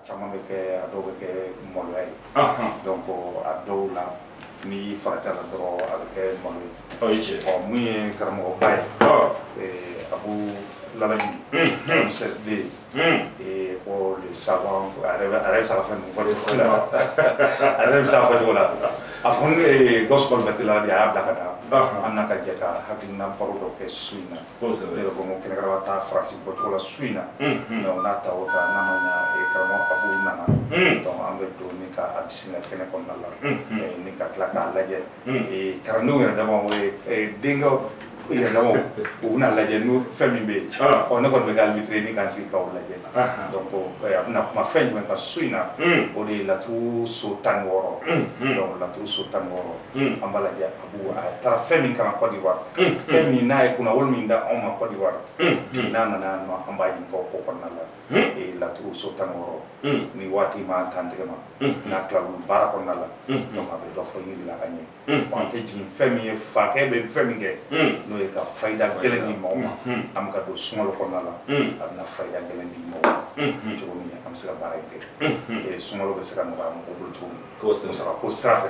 caman bɛ kɛ a dɔw bɛ kɛ maloya ye donc a dɔw la n'i faratila dɔrɔn a bɛ kɛ malo ye o ye tiɲɛ ɔ mun ye karamɔgɔba ye abu lalabi mssd ko le savant a yɛrɛ bɛ se ka fɛn ninnu fɔ cogo la a yɛrɛ bɛ se ka fɔ cogo la a fɔ ne gawusu Kalilu Berete la de a y'a bila ka na an na ka jɛ ka hakilina baro dɔ kɛ su in na kosɛbɛ ne yɛrɛ ko n ko kɛnɛkɛnɛ ka taa faransi bɔcogo la su in na donc n'a ta o ta n'a ma ɲa eh, karamɔgɔ abu nana donc an bɛ don ni ka a bisimila kɛnɛ kɔnɔna la eh, ni ka tila k'a lajɛ eh, kalandenw yɛrɛ dama o ye eh, denkɛw yɛrɛ dama u bɛna lajɛ n'u fɛn min bɛ yen Ah. ɔ ne kɔni bɛ ka arbitrer ni ka n sigi k'aw lajɛ Aha. donc eh, a bɛna kuma fɛn jumɛn kan su in na Mm. o de ye laturu so tan ni wɔɔrɔ Mm, mm. donc laturu so tan ni wɔɔrɔ Mm. an b'a lajɛ a taara fɛn min kalan Côte d'Ivoire fɛn min n'a ye kunnawolo min d'anw ma Côte d'Ivoire bi n'a nana yan nɔ an b'a ɲininka o ko kɔnɔna la ee laturu so tan ni wɔɔrɔ ni waati m'an dantigɛ mana tila olu baara kɔnɔna la donc a bɛ dɔ fɔ yiri la ka ɲɛ bon an tɛ jigin fɛn min ye fakɛ bɛ fɛn min kɛ n'o ye ka fayida gɛlɛn di mɔgɔ ma an bɛ ka don sunkalo kɔnɔna la a bɛna fayida gɛlɛn di mɔgɔ ma cogo min an bɛ se ka baara in kɛ sunkalo bɛ se ka nɔgɔya mɔgɔ bolo cogo min ko sen sara ko sira fɛ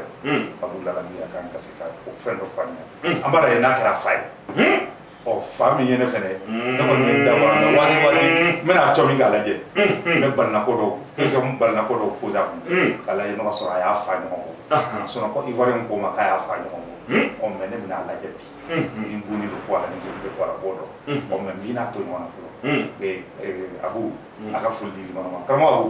a b'u la ka miya kan ka se ka o fɛn dɔ faamuya an b'a ye n'a kɛra fa ye ɔ fa min ye ne fɛnɛ ne kɔni bɛ da wa mɛ waati waati n bɛna cɔ min k'a lajɛ n bɛ balinako dɔw question balinako dɔw poser a kun k'a lajɛ n'o k'a sɔrɔ a y'a fa ɲɔgɔn kɔ sinɔn Côte d'Ivoire ko ma k'a y'a fa ɲɔgɔn kɔ ɔ mɛ ne bɛna a lajɛ bi ni n bonni bɛ bɔ a la ni n bonni tɛ bɔ a la b'o dɔn ɔ mɛ n b'i n'a to ɲɔgɔn na fɔlɔ abu a ka foli di limanu ma karamɔgɔ abu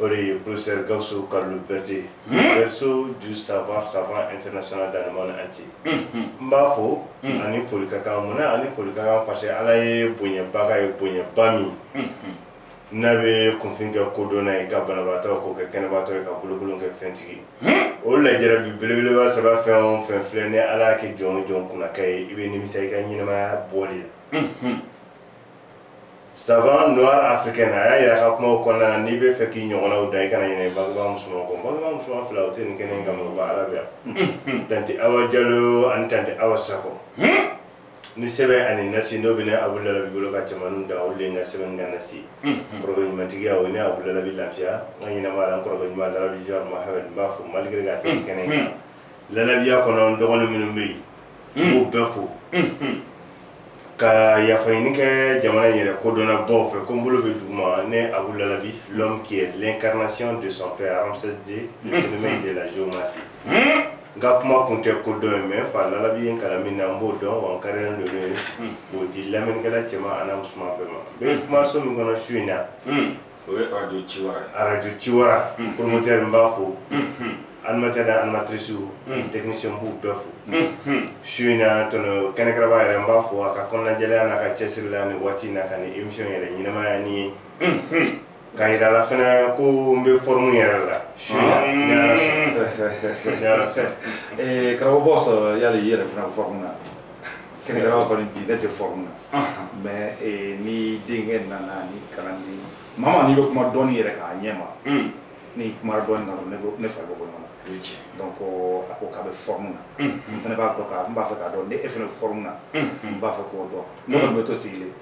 o de ye professeur Gawusu Kalilu Berete berceau du savoir savant international dans le monde entier n b'a fo ani foli ka kan mun na ani foli ka kan parce que Ala ye bonyaba k'a ye bonyaba min n'a bɛ kunfin kɛ kodɔnna ye ka banabaatɔ k'o kɛ kɛnɛbaatɔ ye ka bolokolon kɛ fɛntigi ye o lajarabi belebeleba saba fɛn o fɛn filɛ ni Ala y'a kɛ jɔn o jɔn kunnakɛ ye i bɛ nimisa i ka ɲɛnamaya bɔli la. savant noir africain a y'a yira a ka kumaw kɔnɔna na n'i bɛ fɛ k'i ɲɔgɔnnaw dan i kana ɲinɛ bangebaa musoman kɔ bangebaa musoman fila o tɛ nin kɛnɛ in kama u ka ala bɛ yan tanti awa jalo ani tanti awa sakɔ ni sɛbɛn ani nasi n'o bɛ ne abudulabi bolo ka cɛmaninw dan olu de ye n ka sɛbɛn ni n ka nasi kɔrɔkɛ ɲumantigiya o ye ne abudulabi lafiya n ka ɲɛnamaya la n kɔrɔkɛ ɲuman larabi jɔn mahamɛd n b'a fo malgré k'a tɛ kɛnɛ in kan lalabiya kɔnɔ n dɔgɔnin minnu bɛ yen n b'u bɛɛ fo ka yafaɲini kɛ jamana in yɛrɛ kodɔnna baw fɛ ko n bolo bɛ duguma ne abu lalabi l'homme qui est l'incarnation de son père ramsès ii le hmm. phénomène de la géomancie hmm. n ka kuma kun tɛ kodɔn ye mais fa lalabi ye n kalan min na n b'o dɔn wa n kaarilen don n'o ye hmm. k'o di lamɛnnikɛla cɛman an'a musoman bɛɛ ma n bɛ kumaso min kɔnɔ su in na o ye arajo ci wara ye arajo ci wara mm. promoteur n b'a fo mm-hmm. animateur n'a animatrice mm. technicien n b'u bɛɛ fo mm-hmm. su in na tɔnɔ kɛnɛkɛrɛba yɛrɛ n b'a fo a ka kɔnɔnajɛlɛya n'a ka cɛsiri la nin waati in na ka nin émission yɛrɛ ɲɛnamaya n ye mm-hmm. k'a yira a la fana ko n bɛ forme yɛrɛ la su in na ni ala sɔnna ni ala sɔnna karamɔgɔ bɔsɔ yali i yɛrɛ fana forme na sɛnɛkɛlaw kɔni bi ne tɛ forme na mais eh, ni denkɛ nana ni kalanden mama n'i bɛ kuma dɔɔni yɛrɛ k'a ɲɛ ma hmm. ni kuma dɔɔni kan ne fari bɛ bɔ ɲɔgɔn na donc a ko k'a bɛ forme na hmm, hmm. n fana b'a dɔn ka n b'a fɛ k'a dɔn ni e fana bɛ forme na n b'a fɛ k'o dɔn ne kɔni bɛ to sigilen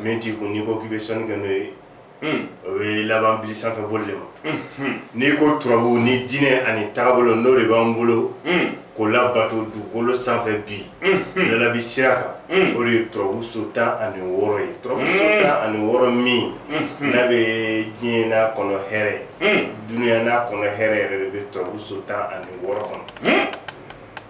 min t'i kun n'i ko k'i bɛ sɔnni kɛ n'o ye o bɛ laban bili sanfɛ boli de ma n'i ko turabu nin diinɛ ani taabolo n'o de b'an bolo k'o labato dugukolo sanfɛ bi lalabi sira kan o de ye turabu so tan ani wɔɔrɔ ye turabu so tan ani wɔɔrɔ min n'a bɛ diɲɛ n'a kɔnɔ hɛrɛ dunuya n'a kɔnɔ hɛrɛ yɛrɛ de bɛ turabu so tan ani wɔɔrɔ kɔnɔ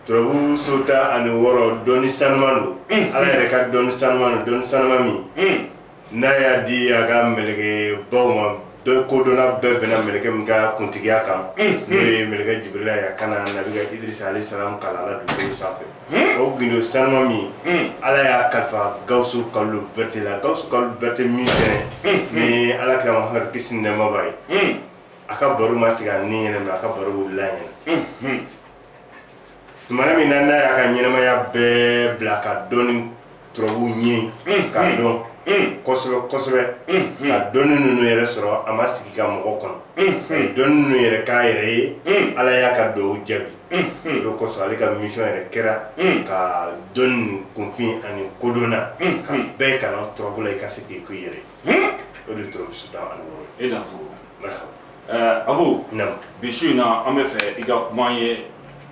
turabu so tan ani wɔɔrɔ dɔnni sanuma don mm. ala yɛrɛ ka dɔnni sanuma don dɔnni sanuma min mm. n'a y'a di a ka mɛlɛkɛ baw ma bɛɛ kodɔnna bɛɛ bɛnna mɛlɛkɛ min ka kuntigiya kan mm. n'o ye mɛlɛkɛ jibirila ye a ka na nabila idirisa alehi salam kalan a la dugukolo sanfɛ o gindo sanuma min ala y'a kalifa gawusu kalilu bɛrɛte la gawusu kalilu bɛrɛte min fɛnɛ ni ala kira mahamadu kisi ni nɛɛma b'a ye a ka baro ma sigi a ɲinɛma a ka baro wulila a ɲɛna tumana min na n'a y'a ka ɲɛnamaya bɛɛ bila ka dɔnni turabu ɲini mm, ka mm, dɔn mm. kosɛbɛ kosɛbɛ ka dɔnni ninnu yɛrɛ sɔrɔ a ma sigi ka mɔgɔ kɔnɔ a ye dɔnni ninnu yɛrɛ k'a yɛrɛ ye ala y'a ka duwaw jaabi o de kosɔn ale ka mission yɛrɛ kɛra ka dɔnni kunfin ani kodɔnna ka bɛɛ kalan turabu la i ka se k'a k'i yɛrɛ ye o de ye turabu so tan ani wɔɔrɔ ye ɛɛ abu naamu bi su in na an b'a fɛ i ka kuma an ye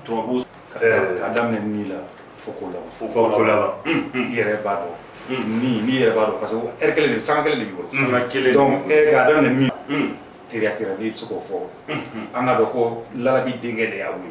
turabu kan Ɛɛ. k'a daminɛ ni la fo k'o laban fo fo k'o laban i yɛrɛ b'a dɔn Mm. ni n'i yɛrɛ b'a dɔn parce que heure kelen de sanga kelen de b'i bolo sanga kelen donc ɛ k'a daminɛ min Mm. teriya teriya n'i bɛ se k'o fɔ an k'a dɔn ko lalabi denkɛ de y'a wuli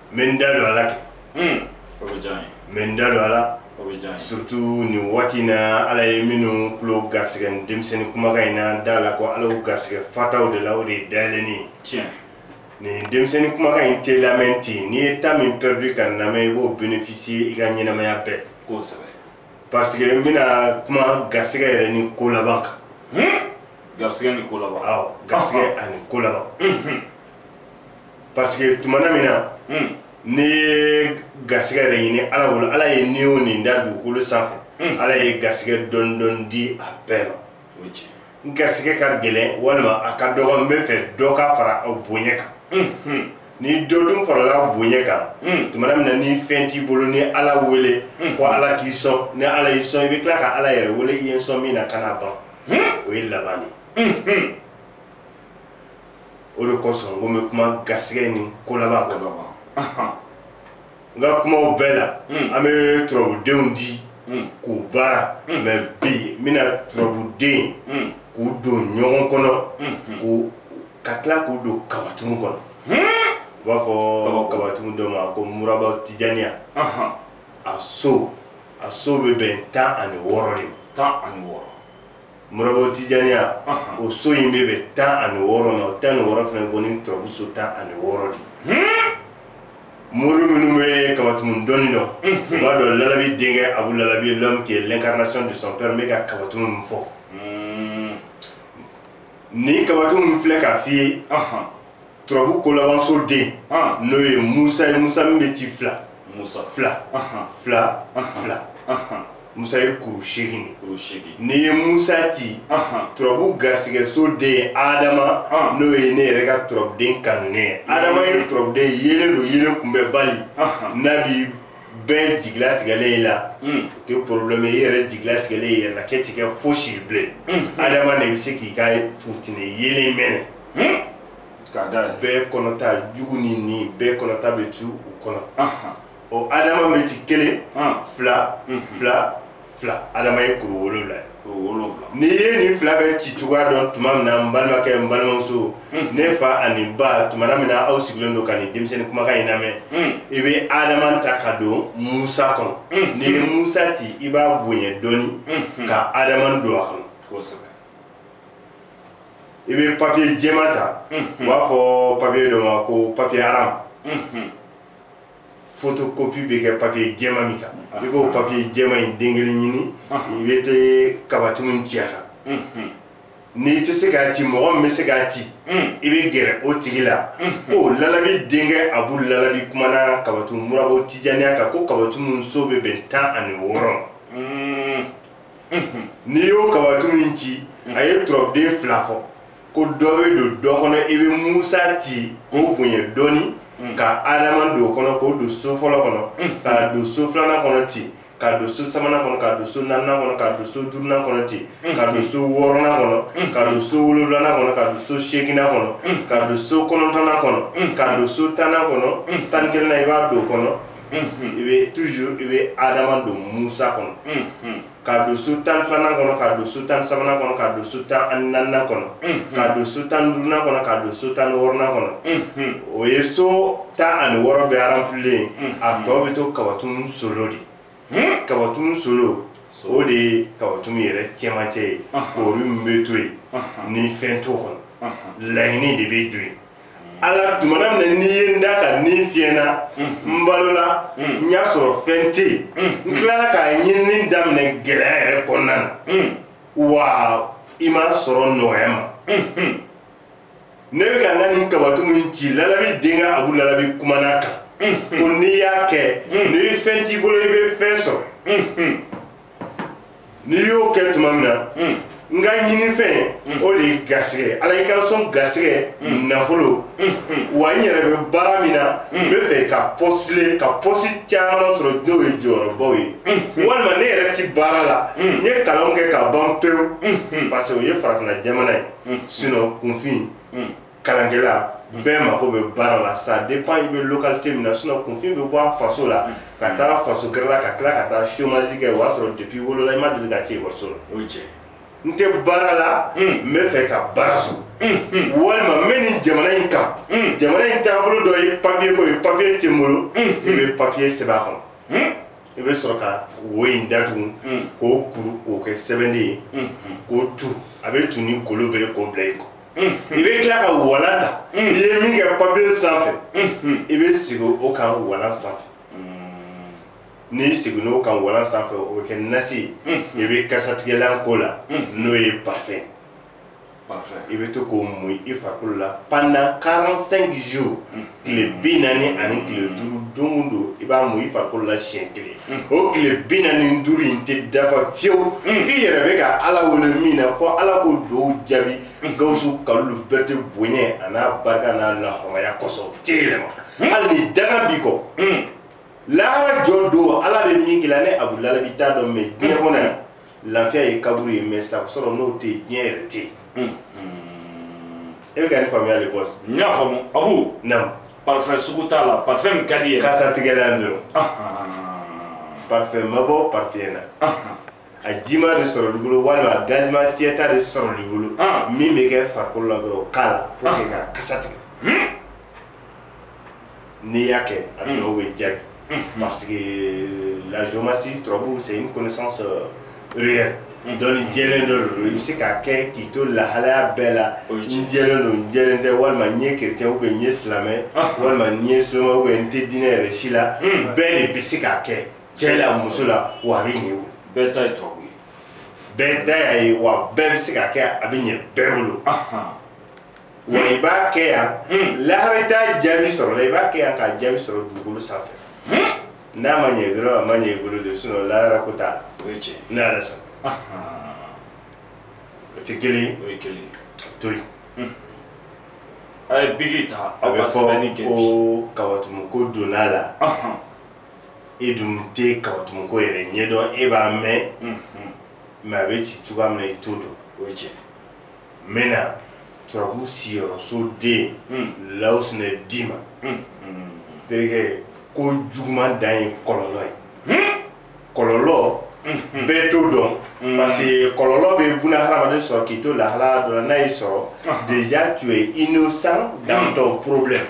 n bɛ n da don a la kɛ o bɛ diya n ye n bɛ n da don a la o bɛ diya n ye surtout nin waati in na ala ye minnu tulo garisigɛ nin denmisɛnnin kumakan in na da la ko ala y'u garisigɛ fataw de la o de ye dayɛlɛnni ye tiɲɛ nin denmisɛnnin kumakan in tɛ lamɛn ten n'i ye temps min perdu ka nin lamɛn i b'o bénéficier i ka ɲɛnamaya bɛɛ kosɛbɛ parce que n bɛna kuma garisigɛ yɛrɛ ni ko laban kan garisɛgɛ ni ko laban awɔ garisigɛ ani ko laban parce que tumana min na hmm. n'i ye garisɛgɛ yɛrɛ ɲini ala bolo ala ye ni o ni da dugukolo sanfɛ hmm. ala ye garisɛgɛ dɔɔni dɔɔni di a bɛɛ ma n garisɛgɛ ka gɛlɛn walima a ka dɔgɔ n bɛ fɛ dɔ ka fara a bonya kan hmm, ni dɔ dun farala bonya kan tumana min na ni fɛn t'i bolo n'i ala wele ko ala k'i sɔn ni ala y'i sɔn i bɛ tila ka ala yɛrɛ wele i ye n sɔn min na kana ban o ye laban de ye o de kosɔn ko n bɛ kuma garisɛgɛ ni ko laban kan n ka kumaw bɛɛ la hmm. an bɛ turabudenw di hmm. k'u baara hmm. mɛ bi n bɛna turabuden k'u don ɲɔgɔn kɔnɔ k'u ka tila k'u don kabatumu kɔnɔ u b'a fɔ kabatumu dɔ ma ko muraba tijaniya a so a so bɛ bɛn tan ani wɔɔrɔ de ma tan ani wɔɔrɔ muraba tijaniya o so in bɛ bɛn tan ani wɔɔrɔ ma o tan ni wɔɔrɔ fana bɔ ni turabu so tan ani wɔɔrɔ de mori minnu bɛ kabatumu dɔnni dɔn u b'a dɔn lalabi denkɛ abu lalabi ye l'homme qui est l'incarnation de son père n bɛ ka kabatumu min fɔ nin kabatumu min filɛ k'a f'i ye turabu kolabanso den n'o ye musa ye musa min bɛ ci fila fila fila fila musa ye kuru seegin de n'i ye musa ci turabu garisigɛso den ye adama n'o ye ne yɛrɛ ka turabuden kanunen ye adama ye turabuden yeelen don yeelen kunbɛnbali n'a bi bɛɛ jigi latigɛlen i la o tɛ problème i yɛrɛ jigi latigɛlen i yɛrɛ la k'e ti kɛ fosi ye bilen adama de bɛ se k'i ka fitinɛ yeelen mɛnɛ Hmm? K'a da yan. Bɛɛ kɔnɔta jugu ni ɲin bɛɛ kɔnɔta bɛ to u kɔnɔ. Ɔ Adama bɛ ci kelen. Fila. Hmm. Fila. Fila. Adama ye kuru wolonwula ye. Kuru wolonwula. N'i ye nin fila bɛɛ ci cogoya dɔn tuma min na n balimakɛ n balimamuso. Hmm. Ne fa ani ba tumana min na aw sigilen don ka nin denmisɛnnin kumakan in lamɛn. I bɛ Adama ta ka don Musa kɔnɔ. N'i ye Musa ci i b'a bonya dɔɔni. Ka Adama don a kɔnɔ. Kosɛbɛ. i bɛ papiye jɛma ta u b'a fɔ papiye dɔ ma ko papiye aram fotokopi bɛ kɛ papiye jɛma min kan i b'o papiye jɛma in den kelen ɲini i bɛ tɛ kabatimu ci a kan n'i tɛ se k'a ci mɔgɔ min bɛ se k'a ci i bɛ gɛrɛ o tigi la ko lalabi denkɛ abu lalabi kumana kabatimu murabo tijaniya kan ko kabatimu so bɛ bɛn tan ani wɔɔrɔ ma n'i y'o kabatu min ci a ye turabuden fila fɔ ko dɔ bɛ don dɔ kɔnɔ i bɛ musa ci k'o bonya dɔɔni ka adama don o kɔnɔ k'o don so fɔlɔ kɔnɔ ka don so filanan kɔnɔ ten ka don so sabanan kɔnɔ ka don so naaninan kɔnɔ ka don so duurunan kɔnɔ ten ka don so wɔɔrɔnan kɔnɔ ka don so wolonwulanan kɔnɔ ka don so seeginan kɔnɔ ka don so kɔnɔntɔnnan kɔnɔ ka don so tannan kɔnɔ tan ni kelennan i b'a don o kɔnɔ i bɛ toujours i bɛ adama don musa kɔnɔ ka don so tan filanan kɔnɔ ka don so tan sabanan kɔnɔ ka don so tan ani naaninan kɔnɔ ka don so tan duurunan kɔnɔ ka don so tan ni wɔɔrɔnan kɔnɔ o ye so tan ani wɔɔrɔ bɛɛ aranpilen a tɔ bɛ to kabatun solo de kabatun solo o de ye kabatun yɛrɛ cɛmancɛ ye koori min bɛ to yen ni fɛn t'o kɔnɔ laɲini de bɛ don yen ala tuma min na n'i ye n da ka ni fiyɛ n na n balola n y'a sɔrɔ fɛn tɛ yen n tilala k'a ɲinini daminɛ gɛlɛya yɛrɛ kɔnɔna na wa i m'a sɔrɔ nɔgɔya n ma ne bɛ ka n ka nin kabatu min ci lalabi denkɛ abu lalabi kumana kan ko n'i y'a kɛ ni fɛn t'i bolo i bɛ fɛn sɔrɔ n'i y'o kɛ tuma min na n ka ɲinifɛn o de ye gasigɛ ala i ka n sɔn gasigɛ nafolo wa n yɛrɛ bɛ baara min na n bɛ fɛ ka pɔsile ka pɔsi caman sɔrɔ n'o ye jɔyɔrɔbaw ye walima ne yɛrɛ ti baara la n ye kalan kɛ ka ban pewu parce que o ye farafinna jamana ye sinon kunfin kalankɛla mm. bɛɛ mako bɛ baara la ça dépend i bɛ localité min na sinon kunfin bɛ bɔ a faso la mm. ka taa faso gɛrɛ la ka tila ka taa chômage kɛ o y'a sɔrɔ depuis i wolola i ma deli ka ci ekɔliso la o ye tiɲɛ n tɛ baara la mm. n bɛ fɛ ka baara sɔrɔ walima n bɛ nin jamana in kan jamana in taabolo dɔ ye papiye ko ye papiye tɛ n bolo i bɛ papiye sɛbɛn a kɔnɔ i bɛ sɔrɔ ka wo in datugu k'o kuru k'o kɛ sɛbɛnden ye k'o turu a bɛ tun ni golo ye k'o bila i kun i bɛ tila ka walan ta i ye min kɛ papiye sanfɛ i bɛ segin o kan walan sanfɛ n'i seginna o kan walan sanfɛ o bɛ kɛ nasi ye i bɛ kasatigɛlan k'o la n'o ye parfum i bɛ to k'o mun i farikolo la pendant 45 jours tile bi naani ani tile duuru don o don i b'a mun i farikolo la siɲɛ kelen o tile bi naani ni duuru in tɛ dafa fiyewu i yɛrɛ bɛ ka ala wele min na fo ala k'o dugawu jaabi gawusu kalulu bɛɛ tɛ bonya an'a barika n'a lahɔrɔmaya kosɔn o tɛ yɛlɛma hali ni danga b'i kɔ lahara jɔ don ala bɛ min k'i la ne abudulayi b'i t'a dɔn mɛ diɲɛ kɔnɔ yan lafiya ye kaburu ye mais sago sɔrɔ n'o tɛ yen diɲɛ yɛrɛ tɛ yen hmm, hmm. e bɛ ka ne faamuya le boss n y'a faamu abu naamu parfum sugu t'a la parfum min ka di ye kasa tigɛla yan dɔrɔn ah, ah, ah, parfum ma bɔ parfum na a jima de sɔrɔl'i bolo walima a gazima fiyɛta de sɔrɔl'i bolo min bɛ kɛ farikolo la dɔrɔn k'a la pour que ka kasa tigɛ hmm. n'i y'a kɛ a hmm. dɔw bɛ jaabi hmm. parce que la géomancie turabu c'est une connaissance euh, réelle hmm. dɔnni jɛlen dɔ don i bɛ se k'a kɛ k'i to lahalaya bɛɛ la n jɛlen don n jɛlen tɛ walima n ye kerecɛn ubiyɛn n ye silamɛ ah. walima n ye soma ubiyɛn n tɛ diinɛ yɛrɛ si la bɛɛ de bɛ se k'a kɛ cɛ la muso la wa a bɛ ɲɛ o bɛɛ ta ye turabu ye bɛɛ ta y'a ye wa bɛɛ bɛ se k'a kɛ a bɛ ɲɛ bɛɛ bolo. wa i b'a kɛ yan hmm. lahara i t'a jaabi sɔrɔ la i b'a kɛ yan k'a jaabi sɔrɔ dugukolo sanfɛ hmm. n'a ma ɲɛ dɔrɔn a ma ɲɛ i bolo de sinɔn lahara ko t'a la n'a yɛrɛ sɔrɔ o tɛ kelen ye o ye kelen ye to yen hmm. a ye biki ta aw ka sɛbɛnni kɛ bi a bɛ fɔ ko kawatumu ko donna a la e dun tɛ kawatumu ko yɛrɛ ɲɛdɔn e b'a mɛn mɛ a bɛ ci cogoya min na i t'o dɔn o ye tiɲɛ n bɛna turabu siyɔrɔso den lawusinɛ d'i ma terikɛ ko juguman dan ye kɔlɔlɔ ye kɔlɔlɔ bɛɛ t'o dɔn parce que kɔlɔlɔ bɛ buna hadamaden sɔrɔ k'i to lahalaya dɔ la n'a y'i sɔrɔ déjà tu es innocent dans ton problème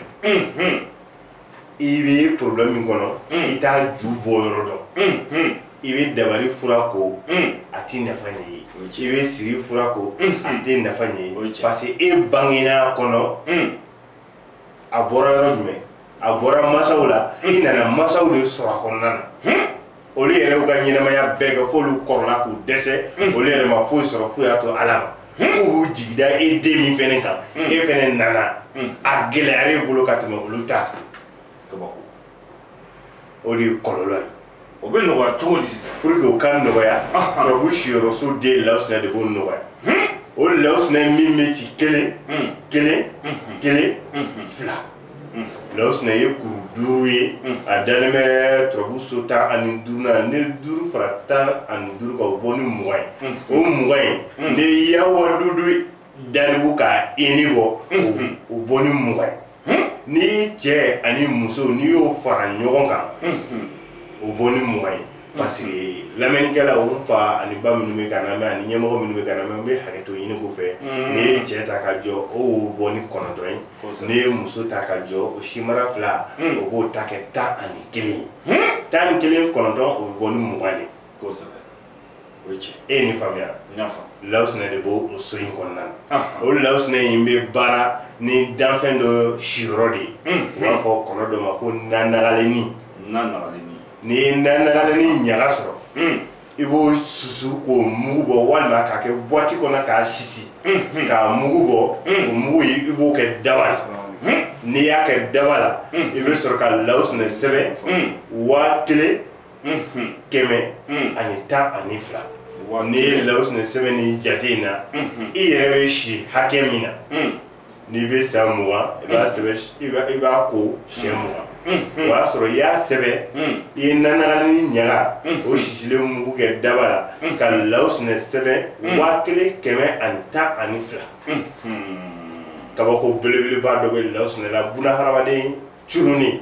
i bɛ problème min kɔnɔ mm. i t'a ju bɔ yɔrɔ dɔn mm, mm. i bɛ dabali fura ko a tɛ nafa ɲɛ i ye i bɛ siri fura ko a tɛ nafa ɲɛ i ye parce que e bangena a kɔnɔ a bɔra yɔrɔ jumɛn a bɔra masaw la i nana masaw de sɔrɔ a kɔnɔna na olu yɛrɛ y'u ka ɲɛnamaya bɛɛ kɛ f'olu kɔrɔla k'u dɛsɛ hmm. olu yɛrɛ ma foyi sɔrɔ fo u y'a to ala ma hmm. k'u b'u jigi da e den min fɛnɛ kan hmm. e fɛnɛ nana a gɛlɛyara e bolo ka tɛmɛ olu ta kan o de ye kɔlɔlɔ ye o bɛ nɔgɔya cogo di sisan pour que o ka nɔgɔya turabu siyɔrɔso den lawusinɛ de b'o nɔgɔya o lawusinɛ min bɛ ci kelen kelen kelen fila lawusinɛ ye kuru duuru ye a dalen bɛ turabu so tan ani duurunan n'i ye duuru fara tan ani duuru kan o bɔ ni mugan ye o mugan ye n'i ye yawadudu daribu ka ini bɔ o bɔ ni mugan ye n'i ye cɛ ani muso n'i y'o fara ɲɔgɔn kan o bɔ ni mugan ye parce que lamɛnnikɛlaw fa ani ba minnu bɛ k'an lamɛn ani ɲɛmɔgɔ minnu bɛ k'an lamɛn n bɛ hakɛto ɲini u fɛ mm. n'i ye cɛ ta k'a jɔ o wo bɔ ni kɔnɔntɔn ye n'i ye muso ta k'a jɔ o sinbara fila mm. o b'o ta kɛ tan ani kelen ye hmm? tan ni kelen kɔnɔntɔn o bɛ bɔ ni mugan de ye nin faamuya lawusinɛ de b'o so in kɔnɔna na o lawusinɛ in bɛ baara ni danfɛn dɔ siyɔrɔ de ye hmm. u b'a fɔ kɔnɔ dɔ ma ko nanagalenni nanagalenni n'i ye nanagalenni ɲaga sɔrɔ hmm. i b'o susu k'o mugu bɔ walima k'a kɛ buwati kɔnɔ k'a sisi hmm. k'a mugu bɔ hmm. o mugu i b'o kɛ daba la n'i y'a kɛ daba la i bɛ sɔrɔ ka lawusinɛ sɛbɛn waa kelen kɛmɛ ani tan ani fila n'i ye lawusinɛ sɛbɛn ni jate in na i yɛrɛ bɛ si hakɛ min na n'i bɛ san mugan i b'a mm. sɛbɛn i b'a i b'a ko siɲɛ mm. mugan mm. o y'a sɔrɔ i y'a sɛbɛn i ye nanagani ɲaga o sisilen mugu kɛ daba la ka lawusinɛ sɛbɛn waa kelen kɛmɛ ani tan ani fila kabako belebeleba dɔ bɛ lawusinɛ la bunahadamaden curunin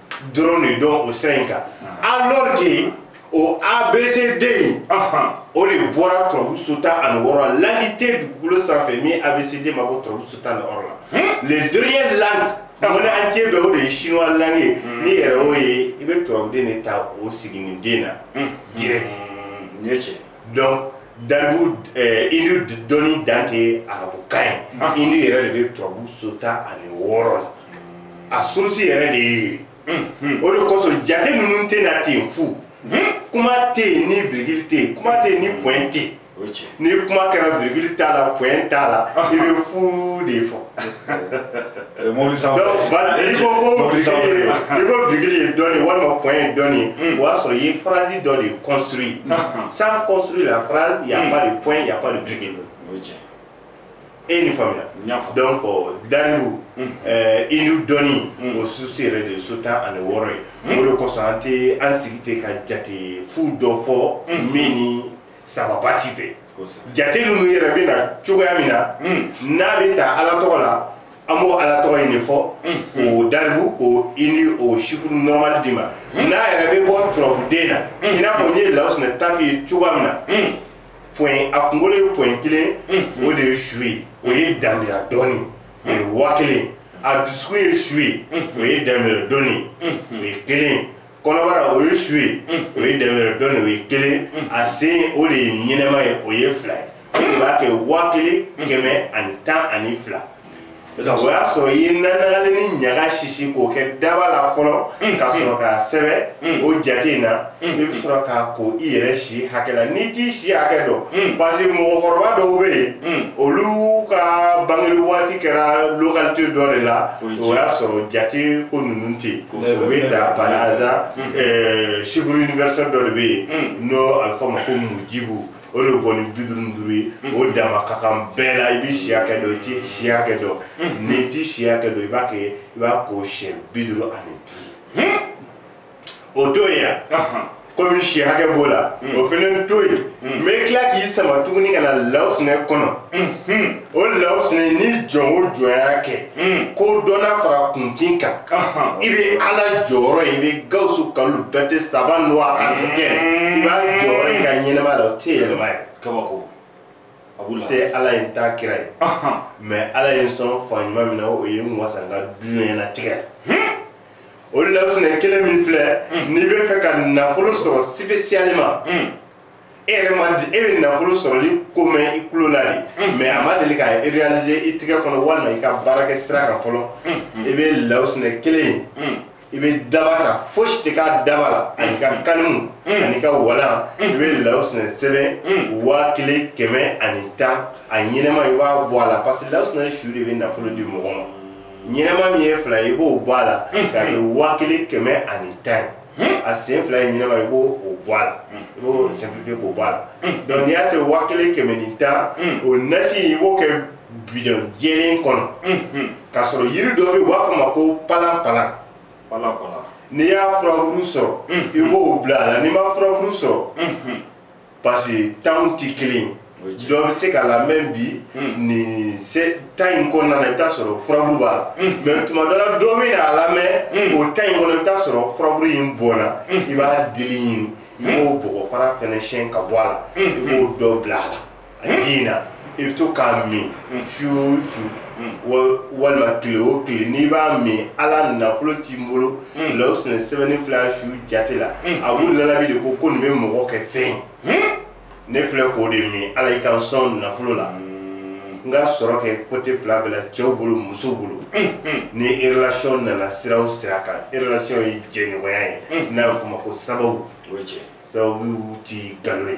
dɔrɔn de don o sira in kan ah. alors que o abcd in o de bɔra turabuso tan ani wɔɔrɔ langue tɛ dugukolo sanfɛ min abcd ma bɔ turabuso tan ni wɔɔrɔ la hmm? le dernier langue au monde entier bɛɛ o de ye chinois langue ye hmm. n'i yɛrɛ y'o ye i bɛ turabuden de ta o siginiden na hmm. direct nin ye tiɲɛ donc daribu eh, indu dɔnni dan tɛ arabukan ye ah. indu yɛrɛ de bɛ turabu so tan ani wɔɔrɔ la a source yɛrɛ de ye hmm, hmm. o de kosɔn jate ninnu tɛ na ten fu hmm? kuma tɛ yen ni virgule tɛ yen kuma tɛ yen ni point tɛ yen ni kuma kɛra virgule t'a la point t'a la ah. i bɛ fu de fɔ Eh, mobili sanfɛ donc voilà i ko ko Mobili sanfɛ. virgule ye- i ko virgule ye dɔ de walima point ye dɔ de ye o y'a sɔrɔ i ye phrase dɔ de construit sans construire la phrase il y a pas de point il y a pas de virgule o ye tiɲɛ e ye nin faamuya n y'a faamu donc euh, daribu euh, indu dɔnni o source yɛrɛ de ye so tan ani wɔɔrɔ ye o de kosɔn an tɛ an sigi ten ka jate fu dɔ fɔ min ni sababa ti bɛn jate ninnu yɛrɛ bɛ na cogoya min na hmm. n'a bɛ ta ala tɔgɔ la an b'o ala tɔgɔ in de fɔ hmm. k'o daribu k'o i ni o chiffre normal d'i ma hmm. n'a yɛrɛ bɛ bɔ turabuden na i n'a fɔ n ye lawusinɛ ta f'i ye cogoya min na bon a kunkolo ye point kelen o de ye su ye o ye danbira dɔɔni o ye waa kelen a dusukun ye su ye o ye danbira dɔɔni o ye kelen ye kɔnɔbara o ye su ye o ye dɛmɛrɛ dɔn o ye kelen a sen o de ye ɲɛnɛma ye o ye fila ye o de b'a kɛ waa kelen kɛmɛ ani tan ani fila o y'a sɔrɔ i ye nanagalen ni ɲaga sisi k'o kɛ daba la fɔlɔ ka sɔrɔ k'a sɛbɛn o jate in na i bɛ sɔrɔ k'a ko i yɛrɛ si hakɛ la n'i t'i si hakɛ dɔn parce que mɔgɔkɔrɔba dɔw bɛ yen olu ka bangeli waati kɛra localité dɔ de la o y'a sɔrɔ jate ko ninnu tɛ yen o bɛ ta par hasard ɛɛ chiffre universel dɔ de bɛ yen n'o a bɛ fɔ ma ko mujibu o de bɔ ni bi duuru ni duuru ye o dama ka kan bɛɛ la i bɛ si hakɛ dɔn i tɛ si hakɛ dɔn n'i tɛ si hakɛ dɔn i b'a kɛ i b'a ko siɲɛ bi duuru ani duuru o to yen. komi si hakɛ b'o la hmm. o fana to yen n hmm. bɛ tila k'i sama tuguni ka na lawusinɛ kɔnɔ hmm, o lawusinɛ ni jɔn o jɔn y'a kɛ kodɔnna fara kunfin kan i bɛ ala jɔyɔrɔ ye i bɛ gawusu kalilu bɛrɛte saba nɔ a kɛ i b'a jɔyɔrɔ ye i ka ɲɛnɛma la o tɛ yɛlɛma ye sabu n tɛ ala ye n t'a kira ye mɛ ala ye n sɔn fa ɲuman min na o ye n wasa n ka duɲɛnatigɛ o lawusinɛ kelen min filɛ hmm. n'i bɛ fɛ ka nafolo sɔrɔ spécialement hmm. e yɛrɛ ma di e bɛ nafolo sɔrɔli ko mɛn i tulo la de hmm. mɛ a ma deli ka réaliser i tɛgɛ kɔnɔ walima i ka baarakɛ sira kan fɔlɔ i bɛ lawusinɛ kelen ye i bɛ daba ta fosi tɛ k'a daba la an'i ka kalimu an'i ka walan i bɛ lawusinɛ sɛbɛn waa kelen kɛmɛ ani tan a ɲɛnɛma i b'a bɔ a la parce que lawusinɛ su de bɛ nafolo di mɔgɔ ma ɲɛnɛma min ye fila ye i b'o bɔ a la hmm. k'a kɛ waa kelen kɛmɛ ani tan ye hmm. a sen fila ye ɲɛnɛma i b'o o bɔ a la hmm. i b'o simplifier k'o bɔ a la donc n'i y'a se waa kelen kɛmɛ ni tan o nasi i b'o kɛ bidɔn jɛlen kɔnɔ ka sɔrɔ yiri dɔ bɛ yen u b'a fɔ ma ko palanpalan n'i y'a furaburu sɔrɔ i b'o bila a la n'i ma furaburu sɔrɔ parce que temps tɛ kelen ye dɔ bɛ se k'a lamɛn bi nin temps in kɔnɔna na i bɛ taa sɔrɔ furaburu b'a la mɛ tuma dɔ la dɔ bɛ na a lamɛn o temps in kɔnɔ i bɛ taa sɔrɔ furaburu in bɔnna i b'a dili ɲini i b'o bɔgɔ fara fɛnɛ siyɛn ka bɔ a la i b'o dɔ bila a la a ji in na i bɛ to k'a min su o su walima tile o tile n'i b'a min ala nafolo t'i bolo lawusinɛ sɛbɛnni fila su jate la a b'u lalabi de ko ko nin bɛ mɔgɔ kɛ fɛn ne filɛ k'o de min ala y'i ka sɔn nafolo la n ka sɔrɔ kɛ côté fila bɛɛ la cɛw bolo musow bolo ni relation nana sira o sira kan relation ye jɛɲɔgɔnya ye n'a bɛ f'o ma ko sababu sababu ti nkalon ye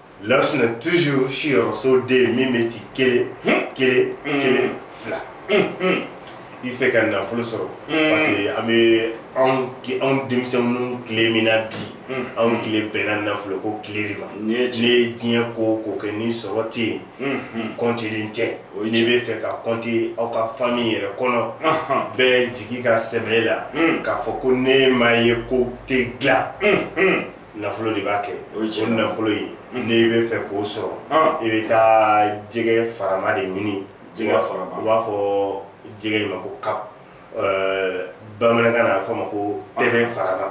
lawusina toujours siyɔrɔso den min bɛ ci kelen kelen kelen fila i fɛ ka nafolo sɔrɔ parce que an bɛ anw ki- anw denmisɛnninw tile min na bi anw tile bɛnna nafolo ko tile de ma Nin ye n'i ye diɲɛ ko o ko kɛ ni sɔrɔ tɛ yen i kɔntilen tɛ O ye n'i bɛ fɛ ka kɔnti aw ka fami yɛrɛ kɔnɔ bɛɛ jigi ka sɛmɛ i la k'a fɔ ko n'e ma ye ko tɛ dilan nafolo de b'a kɛ o nafolo ye hmm. n'i bɛ fɛ k'o sɔrɔ ah. i bɛ taa jɛgɛ farama de ɲini u b'a fɔ jɛgɛ in ma ko carpe euh, bamanankan na a fɔ ma ko ah. tɛbɛn farama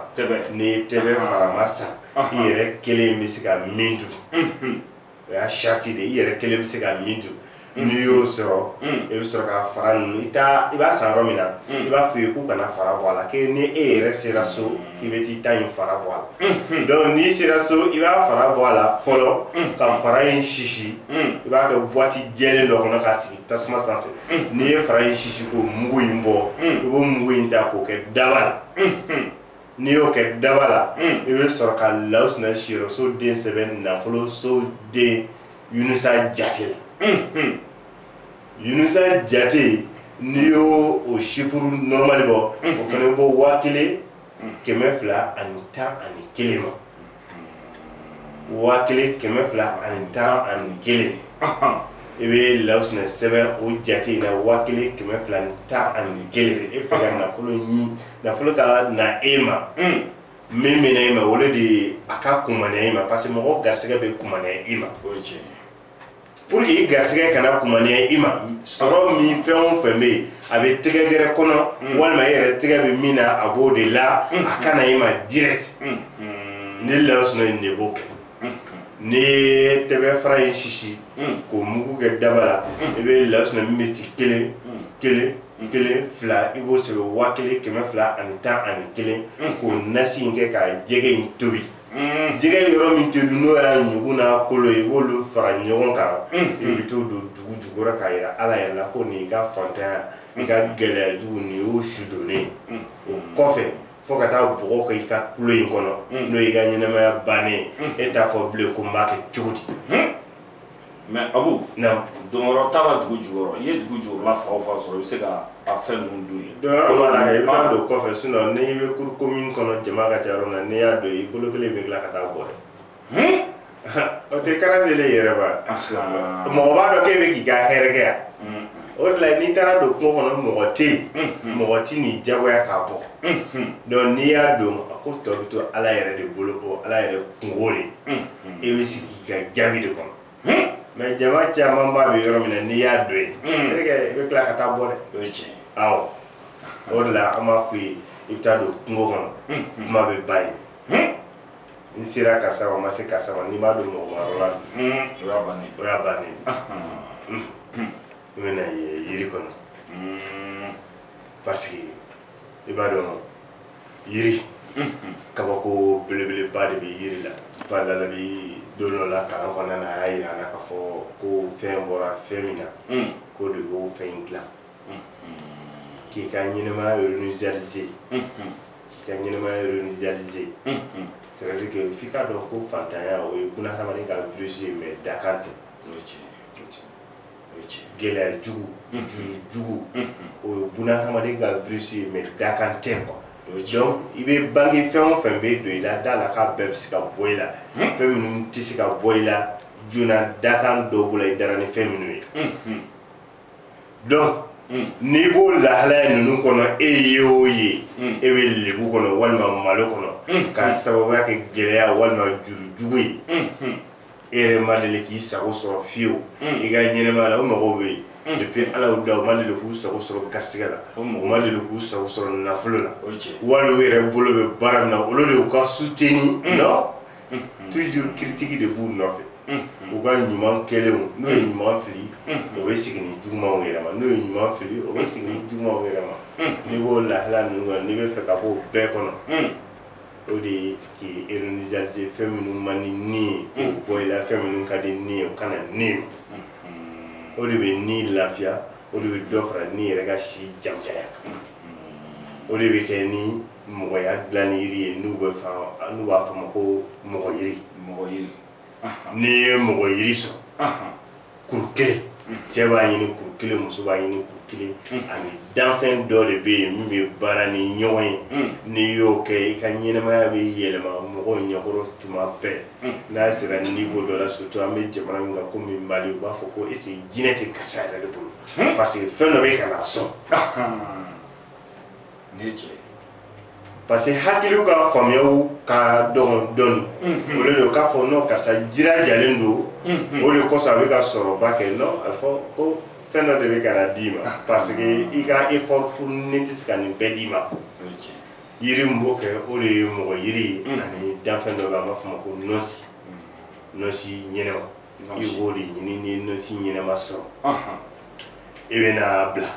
n'i ye tɛbɛn ah. farama san i yɛrɛ kelen bɛ se ka min dun hmm, hmm. o y'a sarati de i yɛrɛ kelen bɛ se ka min dun mm. n'i y'o sɔrɔ mm. i bɛ sɔrɔ ka fara ninnu i taa i b'a san yɔrɔ min na mm. i b'a f'u ye k'u kana fara bɔ a la k'e ni e yɛrɛ sera so k'i bɛ t'i ta in fara bɔ a la mm-hmm. donc n'i sera so i b'a fara bɔ a la fɔlɔ ka fara in sisi i b'a kɛ buwati jɛlen dɔ kɔnɔ ka sigi tasuma sanfɛ n'i ye fara in sisi k'o mugu in bɔ i b'o mugu in ta k'o kɛ daba la mm-hmm. n'i y'o kɛ daba la hmm. i bɛ sɔrɔ ka lawusina siyɔrɔso den sɛbɛn nafoloso den yunusa jate la hmm, hmm. yunusa jate n'i y'o o chiffre normal bɔ o fana bɛ bɔ waa kelen kɛmɛ fila ani tan ani kelen ma waa kelen kɛmɛ fila ani tan ani kelen i bɛ lawusinɛ sɛbɛn o jate in na waa kelen kɛmɛ fila ni tan ani kelen e fɛ ka nafolo ɲini nafolo ka na e ma min bɛ na e ma o de ye a ka kumaniya e ma parce que mɔgɔ garisɛgɛ bɛ kumaniya e ma pour que i garisigɛ kana kumaniya i ma sɔrɔ min fɛn o fɛn bɛ yen a bɛ tɛgɛ gɛrɛ kɔnɔ mm. walima e yɛrɛ tɛgɛ bɛ min na a b'o de la mm. a ka na i ma direct mm. ni lawusina in de b'o kɛ n'i ye tɛbɛn fara in sisi k'o mugu kɛ daba la i bɛ lawusina min bɛ ci kelen kelen kelen fila i b'o sɛbɛn waa kelen kɛmɛ fila ani tan ani kelen k'o nasi in kɛ ka jɛgɛ in tobi Mm. jɛgɛ in yɔrɔ min tɛ dun n'o y'a ɲugu n'a kolo ye i b'olu fara ɲɔgɔn kan mm, i mm. bɛ t'o don dugu jukɔrɔ k'a jira ala yɛrɛ la ko nin y'i ka fantanya i ka gɛlɛya jugu nin y'o su donnen ye o kɔfɛ fo ka taa bɔgɔ kɛ i ka kulo in kɔnɔ n'o y'i ka ɲɛnamaya bannen ye e t'a fɔ bilen ko n b'a kɛ cogo di mais abu donyɔrɔ t'a la dugu jukɔrɔ i ye dugu jukɔrɔla fan o fan sɔrɔ i bɛ se ka a fɛn ninnu don yen donyɔrɔ b'a la i b'a don kɔfɛ sinɔn n'i bɛ cour commune kɔnɔ jama ka ca yɔrɔ min na n'i y'a don i bolo kelen bɛ tila ka taa bɔ dɛ o tɛ kara selen yɛrɛ ba mɔgɔ b'a dɔn k'e bɛ k'i ka hɛrɛ kɛ yan o de la n'i taara don kungo kɔnɔ mɔgɔ tɛ yen mɔgɔ tɛn'i jagoya k'a bɔ donc n'i y'a don a ko tɔ bɛ to ala yɛrɛ de bolo o ala yɛrɛ kunko de i bɛ sigi ka jaabi de kɔnɔ hmm. mais jama camanba bɛ yɔrɔ min na n'i y'a don yen hmm. terikɛ i bɛ tila ka taa bɔ dɛ o ye tiɲɛ awɔ o de la an b'a f'u ye i bɛ taa don kungo kɔnɔ hmm, kuma bɛ ban yen n sera karisa ma n ma se karisa ma n'i m'a don mɔgɔma yɔrɔ la o y'a bannen o y'a bannen n bɛ na yiri kɔnɔ parce que i b'a dɔn yiri kabako belebeleba de bɛ yiri la fa lalabi don dɔ la kalan kɔnɔna na a y'a yira an na k'a fɔ ko fɛn bɔra fɛn min na k'o de b'o fɛn in dilan k'i ka ɲɛnɛmaya réinitialiser k'i ka ɲɛnɛmaya réinitialiser c'est à dire que f'i k'a dɔn ko fantanya o ye bunahadamaden ka virus ye mais dakan tɛ gɛlɛya jugu mm-hmm. juru jugu mm-hmm. o ye buna hadamaden ka virus ye mais dakan tɛ quoi donc i bɛ bange fɛn o fɛn bɛ don i la d'a la k'a bɛɛ bɛ se ka bɔ i la mm-hmm. fɛn minnu tɛ se ka bɔ i la joona dakan dɔw b'o la i dara ni fɛn minnu ye donc mm. n'i b'o lahalaya ninnu kɔnɔ e ye o ye mm. e bɛ lebu kɔnɔ walima malo kɔnɔ mm. k'a sababuya kɛ gɛlɛya walima juru jugu ye e yɛrɛ ma deli k'i sago sɔrɔ fiyewu i ka ɲɛnɛmaya la o mɔgɔw bɛ yen depuis ala y'u da u ma deli k'u sago sɔrɔ garisigɛ la u ma deli k'u sago sɔrɔ nafolo la wali u yɛrɛ bolo bɛ baara min na au lieu de u k'a soutenir non toujours critique de b'u nɔfɛ u ka ɲuman kɛlenw n'o ye ɲuman fili o bɛ sigi ni jugumanw yɛrɛ ma n'o ye ɲuman fili o bɛ sigi ni jugumanw yɛrɛ ma n'i b'o lahala ninnu kɔnɔ n'i b'a fɛ ka bɔ o bɛɛ kɔnɔ o de ye k'i réinitialiser fɛn minnu man di ni ye k'o mm. bɔ i la fɛn minnu ka di ni ye o ka na ni ma mm-hmm. o de bɛ ni lafiya o de bɛ dɔ fara ni yɛrɛ ka si jamujaya kan mm-hmm. o de bɛ kɛ ni mɔgɔya dilanni yiri ye n'u bɛ n'u b'a fɔ a ma ko mɔgɔ yiri mɔgɔ yiri n'i ye mɔgɔ yiri sɔrɔ kuru kelen cɛ b'a ɲini kuru kelen muso b'a ɲini kuru kelen ani danfɛn dɔ de bɛ yen min bɛ baara ni ɲɔgɔn ye n'i y'o kɛ i ka ɲɛnɛmaya bɛ yɛlɛma mɔgɔw ɲɛkɔrɔ tuma bɛɛ n'a sera niveau dɔ la surtout an bɛ jamana min kan komi mali u b'a fɔ ko est-ce jinɛ tɛ karisa yɛrɛ de bolo parce que fɛn dɔ bɛ ka na sɔn parce que hakiliw ka faamuyaw ka dɔgɔn dɔɔni mhm. o de don k'a fɔ non karisa jirajalen don mhm. o de kosɔn a bɛ ka sɔrɔba kɛ non a fɔ ko fɛn dɔ de bɛ ka na d'i ma ah. parce que i ka effort pur nin tɛ se ka nin bɛɛ d'i ma yiri min b'o kɛ o de ye mɔgɔ yiri mhm. ani danfɛn dɔ bɛ an b'a fɔ o ma ko nɔnsi nɔnsi ɲɛnɛma i b'o de ɲini ni nɔnsi ɲɛnɛma sɔrɔ i bɛn'a bila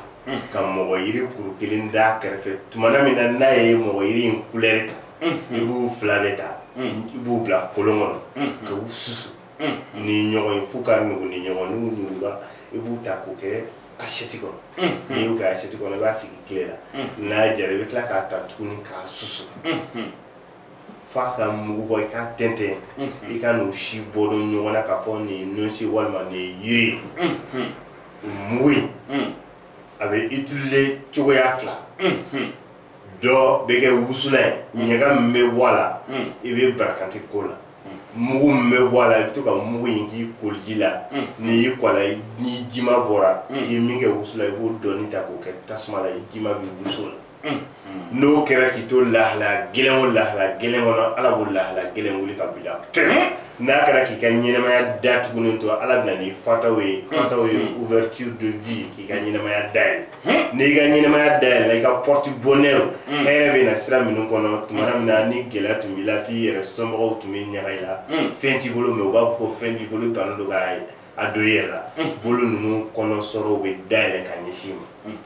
ka mɔgɔ yiri kuru kelen d'a kɛrɛfɛ tumana min na n'a ye mɔgɔ yiri in kulɛri ta i b'u fila bɛ ta i b'u bila kolon kɔnɔ ka u susu ni ɲɔgɔn ye f'u ka nugu ni ɲɔgɔn n'u nugura i b'u ta k'u kɛ asɛti kɔnɔ n'i y'u kɛ asɛti kɔnɔ i b'a sigi tile la n'a jara i bɛ tila k'a ta tuguni k'a susu f'a ka mugu bɔ i k'a tɛntɛn i kan'o si bɔ dɔn ɲɔgɔn na k'a fɔ nin ye nɔnsi walima nin ye yiri ye o mugu in a bɛ utiliser cogoya fila dɔ bɛ kɛ wusula ye ɲaga min bɛ bɔ a la i bɛ barakante k'o la mugu min bɛ bɔ a la i bɛ to ka mugu in k'i koli ji la n'i y'i ko a la n'i jima bɔra i ye min kɛ wusula i b'o dɔɔni ta k'o kɛ tasuma la i jima bɛ wusu o la n'o kɛra k'i to lahalaya gɛlɛn o lahalaya gɛlɛn kɔnɔ ala b'o lahalaya gɛlɛn wuli ka bila n'a kɛra k'i ka ɲɛnɛmaya datugunen don ala bɛ na ni fatahu ye fatahu ye ouverture de vie k'i ka ɲɛnɛmaya dayɛlɛ n'i ka ɲɛnɛmaya dayɛlɛ i ka porte bonheur hɛrɛ bɛ na sira minnu kɔnɔ tuma min na ni gɛlɛya tun b'i la f'i yɛrɛ somɔgɔw tun bɛ ɲaga i la fɛn t'i bolo mais u b'a fɔ ko fɛn b'i bolo bannen don k'a ye a don i yɛrɛ la bolo ninnu kɔnɔ sɔrɔw bɛ dayɛlɛ ka ɲɛsin i ma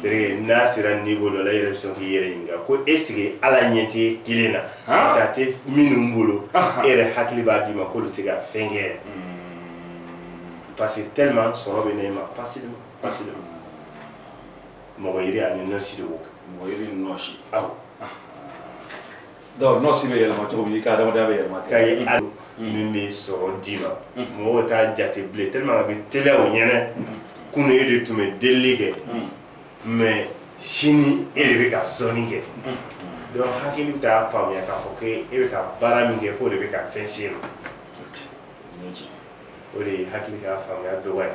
bere n'a sera niveau dɔ la i yɛrɛ bɛ sɔn k'i yɛrɛ ɲininka ko est ce que ala ɲɛ t'e kelen na parce que a tɛ minnu bolo e yɛrɛ hakili b'a d'i ma k'olu tɛ ka fɛn kɛ yɛrɛ parce que tellement sɔrɔ bɛ na e ma facilement facilement mɔgɔ yiri ani nɔnsi de b'o kɛ mɔgɔ yiri ni nɔnsi awɔ donc nɔnsi bɛ yɛlɛma cogo min i ka adamadenya bɛ yɛlɛma ka ye a min bɛ sɔrɔ d'i ma mɔgɔw t'a jate bilen tellement a bɛ teliya o ɲɛna kunu e de tun bɛ delili kɛ mais sini e de bɛ ka sɔnni kɛ donc hakili bɛ taa faamuya k'a fɔ ko e bɛ ka baara min kɛ k'o de bɛ ka fɛn se e ma o de ye hakili ka faamuya dɔgɔya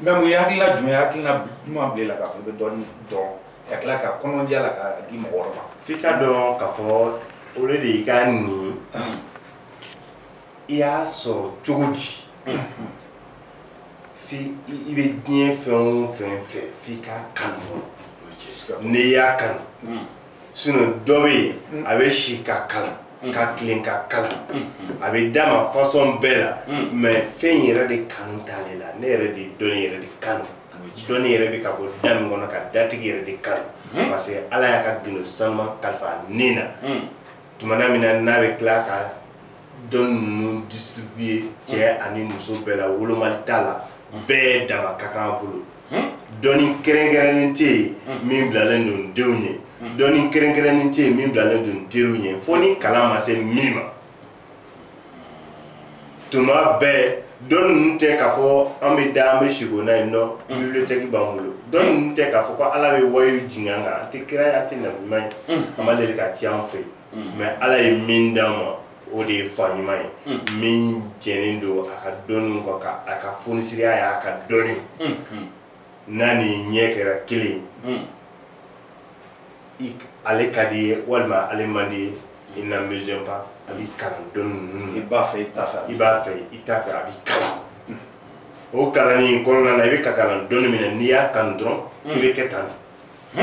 mais mun ye hakilina jumɛn hakilina jumɛn bila la k'a fɔ i bɛ dɔnni dɔn ka tila ka kɔnɔdiya la k'a di mɔgɔ wɛrɛ ma f'i k'a dɔn k'a fɔ o de y'i ka nin i y'a sɔrɔ cogo di f'i i bɛ diɲɛ fɛn o fɛn fɛ f'i k'a kanu fɔlɔ n'i y'a kanu sinon dɔ bɛ yen mm. a bɛ si ka kalan mm. ka tilen ka kalan mm-hmm. a bɛ d'a ma fasɔn bɛɛ la mm. mɛ fɛn in yɛrɛ de kanu t'ale la ne yɛrɛ de dɔnni yɛrɛ de kanu dɔnni yɛrɛ bɛ ka bɔ da min kɔnɔ ka datigi yɛrɛ de kanu mm-hmm. parce que ala y'a ka gundo sanuma kalifa ne na tumana min na n'a bɛ tila ka dɔnni ninnu distribuer cɛ ani muso bɛɛ la wolomali t'a la bɛɛ dama ka kan a bolo dɔnni kɛrɛnkɛrɛnnen tɛ yen min bilalen don denw ye dɔnni kɛrɛnkɛrɛnnen tɛ yen min bilalen don teriw ye fo ni kalan ma se min ma tuma bɛɛ dɔnni ninnu tɛ k'a fɔ an bɛ da an bɛ siko n'a ye non bibiliyotɛki b'an bolo dɔnni ninnu tɛ k'a fɔ ko ala bɛ wayiw jigin an kan an tɛ kira ye an tɛ nabiɲuman ye a ma deli ka ci an fɛ yen mɛ ala ye min d'a ma o de ye fa ɲuman ye min jɛnen don a ka dɔnniw kɔ ka a ka fonisiriya y'a ka dɔnni n'a ni ɲɛ kɛra kelen ale ka d'i ye walima ale man d'i ye il n'a besoin pas a b'i kalan dɔnni ninnu i b'a fɛ i t'a fɛ i b'a fɛ i t'a fɛ a b'i kalan o kalanni in kɔnɔna na i bɛ ka kalan dɔnni min na n'i y'a kanu dɔrɔn i bɛ kɛ tan de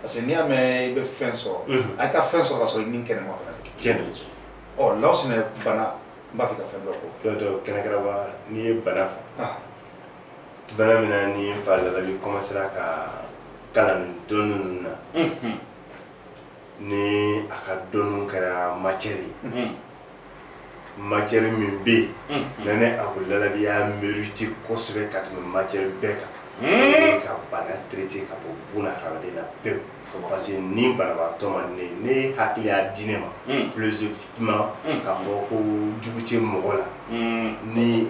parce que n'i y'a mɛn i bɛ fɛn sɔrɔ a y'i ka fɛn sɔrɔ k'a sɔrɔ i ni kɛnɛma fana tiɲɛ don ɔ law sinɛ bana n b'a fɛ ka fɛn dɔ fɔ dɔ dɔ kɛnɛkɛrɛba n'i ye bana fɔ ah. bana min na ni fa lalabi kɔmasera ka kalan dɔnni ninnu na ni a ka dɔnniw kɛra matiyɛri ye matiyɛri min bɛ yen hmm, hmm. na ne ako lalabi y'a mériter kosɛbɛ ka tɛmɛ matiyɛri bɛɛ kan hmm. ka bana traiter ka bɔ buna hadamaden na pewu parce que ni banabaatɔ ma ne ne hakili y'a di ne ma philosophiquement ka fɔ ko jugu tɛ mɔgɔ la ni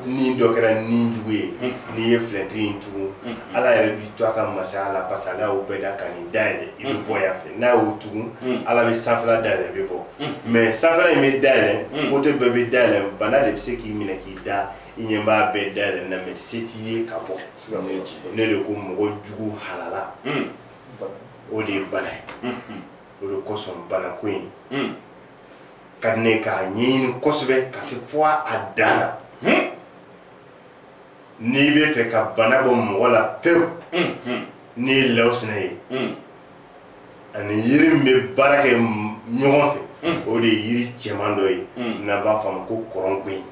ni dɔ kɛra ni jugu ye n'i ye filɛtiri in tugu ala yɛrɛ b'i to a ka masaya la parce que ala y'o bɛɛ da ka nin da yɛlɛ i bɛ bɔ yan fɛ n'a y'o tugu ala bɛ sanfɛla da yɛlɛ i bɛ bɔ mɛ sanfɛla in bɛ da yɛlɛ kote bɛɛ bɛ da yɛlɛ bana de bɛ se k'i minɛ k'i da i ɲɛ b'a bɛɛ da yɛlɛ na mɛ se t'i ye ka bɔ ne de ko mɔgɔ jugu halala o de ye bana ye o de kosɔn banako in ka di ne ye k'a ɲɛɲini kosɛbɛ ka se fo a dan na hmm. n'i bɛ fɛ ka bana bɔ mɔgɔ la pewu hmm, hmm. n'i ye law sinɛ ye ani yiri min bɛ baara kɛ ɲɔgɔn fɛ o de ye yiri cɛman dɔ ye n'an b'a fɔ a ma ko kɔrɔngoyi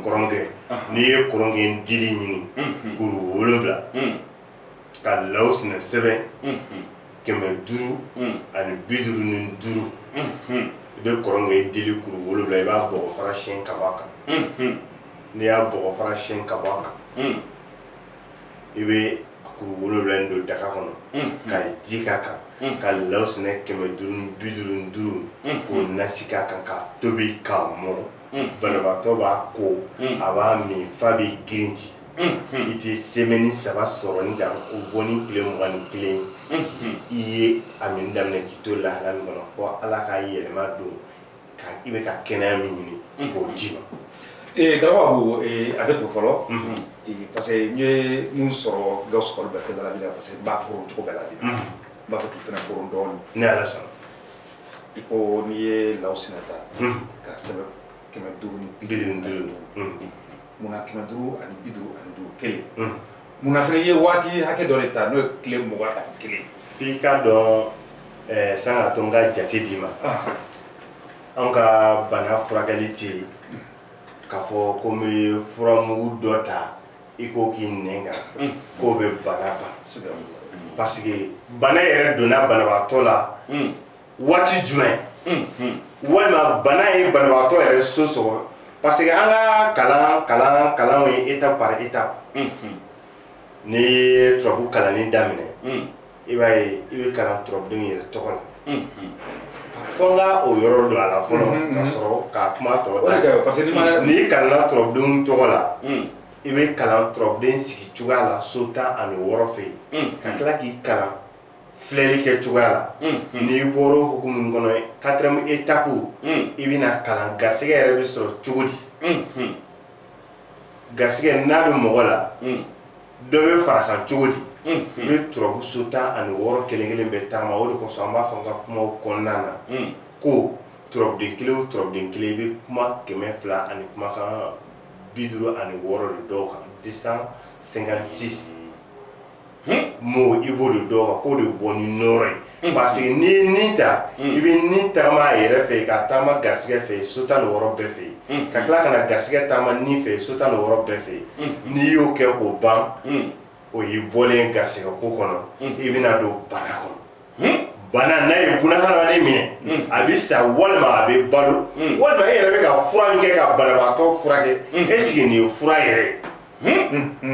kɔrɔnkɛ n'i ye kɔrɔnkɛ dili ɲini kuru wolonwula ka law sinɛ sɛbɛn kɛmɛ duuru ani bi duuru ni duuru i bɛ kɔrɔgɔyi dili kuru wolowula i b'a bɔgɔ fara siyɛn ka bɔ a kan n'i y'a bɔgɔ fara siyɛn ka bɔ a kan i bɛ kuru wolowula in don daga kɔnɔ ka ji k'a kan ka law sɛnɛ kɛmɛ duuru ni bi duuru ni duuru k'o nasi k'a kan k'a tobi k'a mɔn banabaatɔ b'a ko a b'a min f'a bɛ girindi i tɛ semɛni saba sɔrɔ ni kan o bɔ ni tile mugan ni kelen i ye a min daminɛ k'i to lahala min kɔnɔ fo ala ka yɛlɛma don ka i bɛ ka kɛnɛya min ɲini k'o d'i ma ee garaba ko a bɛ to fɔlɔ parce que n ye mun sɔrɔ gawusu kɔli bɛɛ tɛgɛ la bi la parce que n b'a koron cogo bɛɛ la bi n b'a fɛ k'i fana koron dɔɔnin n'ala sɔnna i ko n'i ye law sina ta k'a sɛbɛn kɛmɛ duuru ni bi duuru munna kɛmɛ duuru ani bi duuru ani duuru kelen munna fana ye waati hakɛ dɔ de ta n'o ye tile mugan ani kelen f'i k'a dɔn eh, san ka to n ka jate d'i ma anw ka bana furakɛli tɛ yen k'a fɔ ko n'i ye furamugu dɔ ta i k'o k'i nɛn kan k'o bɛ bana ban parce que bana yɛrɛ donna banabaatɔ la waati jumɛn walima bana ye banabagatɔ yɛrɛ so sɔgɔ parce que an ka kalan kalan kalanw ye étape par étape n'i ye turabu kalanni daminɛ i b'a ye i bɛ kalan turabudenw yɛrɛ tɔgɔ la fo n ka o yɔrɔ don a la fɔlɔ ka sɔrɔ ka kuma tɔ da n'i kalanna turabudenw tɔgɔ la i bɛ kalan turabuden sigi cogoya la so tan ani wɔɔrɔ fɛ yen ka tila k'i kalan filɛli kɛ cogoya la mm, mm. n'i bɔra o hukumu in kɔnɔ ye quatrième étape mm. i bɛna kalan garisɛgɛ yɛrɛ bɛ sɔrɔ cogo di garisɛgɛ n'a bɛ mɔgɔ la dɔ bɛ fara a kan cogo di i bɛ turabu so tan ani wɔɔrɔ kelen kelen bɛɛ taama o de kosɔn an b'a fɔ n ka kumaw kɔnɔna na ko turabuden kelen o turabuden kelen i bɛ kuma kɛmɛ fila ani kumakan bi duuru ani wɔɔrɔ de dɔn o kan deux cent cinquante six mɔgɔ i b'o de dɔn ka k'o de bɔ ni nɔɔrɔ ye parce que n'i ye ni ta i bɛ ni taama a yɛrɛ fɛ k'a taama garisɛgɛ fɛ so tan ni wɔɔrɔ bɛɛ fɛ ka tila ka na garisɛgɛ taama ni fɛ so tan ni wɔɔrɔ bɛɛ fɛ n'i y'o kɛ k'o ban o y'i bɔlen garisɛgɛ ko kɔnɔ i bɛna don bana kɔnɔ bana n'a ye bunahadamaden minɛ a bɛ sa walima a bɛ balo walima e yɛrɛ bɛ ka fura min kɛ ka banabaatɔ furakɛ est ce que nin ye fura yɛrɛ ye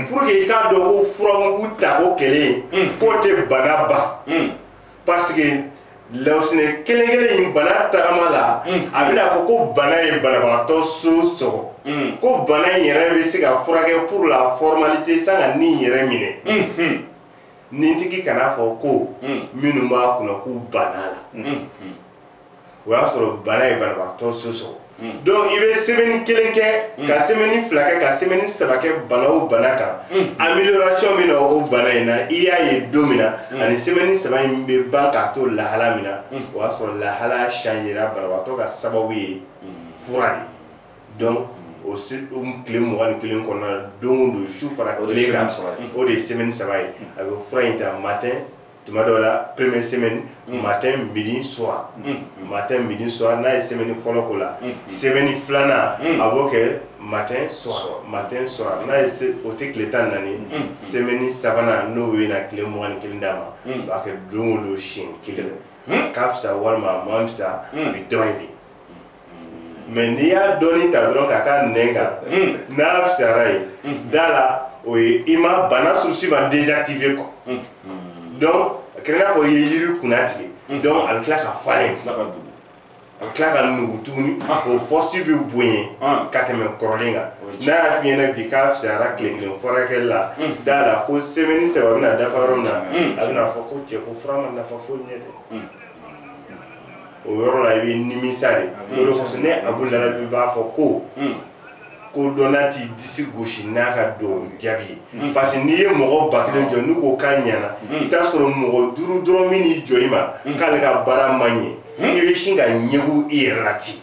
pour que i k'a dɔn ko furamugu ta ko kelen k'o tɛ bana ban parce que lawusinɛ kelen kelen in bana tagama la a bɛn'a fɔ ko bana ye banabagatɔ so sɔgɔ ko bana in yɛrɛ bɛ se ka furakɛ pour la formalité san ka ni yɛrɛ minɛ nintigi kan'a fɔ ko minnu b'a kunna k'u bann'a la o y'a sɔrɔ bana ye banabagatɔ so sɔgɔ hmm. donc i bɛ semaine kelen kɛ hmm. ka semaine fila kɛ ka semaine saba kɛ bana o bana kan hmm. amélioration min na o bana in na i y'a ye don min na ani semaine saba in bɛ ban k'a to lahala min na o y'a sɔrɔ lahala changera banabagatɔ ka sababu ye fura de donc o tile mugan ni kelen kɔnɔna na don o don su fara tile kan o de ye semaine saba ye a bɛ fura in ta matin tuma dɔw la première semaine mm. matin midi soir mm. mm. matin midi soir n'a ye semaine fɔlɔ k'o la semaine filanan a b'o kɛ matin soir matin soir n'a ye o kɛ tile tan naani semaine sabanan n'o bɛna tile mugan ni kelen d'a ma a b'a kɛ don o don siɲɛ kelen a ka fisa walima a man fisa a bɛ dɔn yen de mais n'i y'a dɔɔni ta dɔrɔn k'a k'a nɛn kan hmm. n'a fisayara ye hmm. da la o ye i ma bana source ba désactiver quoi hmm. donc a kɛra i n'a fɔ i ye yiri kunna tigɛ donc a bɛ tila ka falen a bɛ tila ka nugu tuguni ah. o force bɛ bonya ah. ka tɛmɛ kɔrɔlen kan n'a y'a f'i ɲɛna bi k'a fisayara tile kelen furakɛli la d'a la ko semaine saba bɛna dafa yɔrɔ min na a bɛn'a fɔ ko cɛ ko fura ma nafa foyi ɲɛ dɛ o yɔrɔ la i bɛ nimisa de o de kosɔn ne abu larabi b'a fɔ ko kodɔnna t'i disi gosi n'a ka dugaw jaabi ye parce que n'i ye mɔgɔ ba kelen jɔ n'u ko k'a ɲɛna i bɛ t'a sɔrɔ mɔgɔ duuru dɔrɔn min n'i jɔ i ma k'ale ka baara ma ɲɛ i bɛ sin ka ɲɛgu i yɛrɛ la ten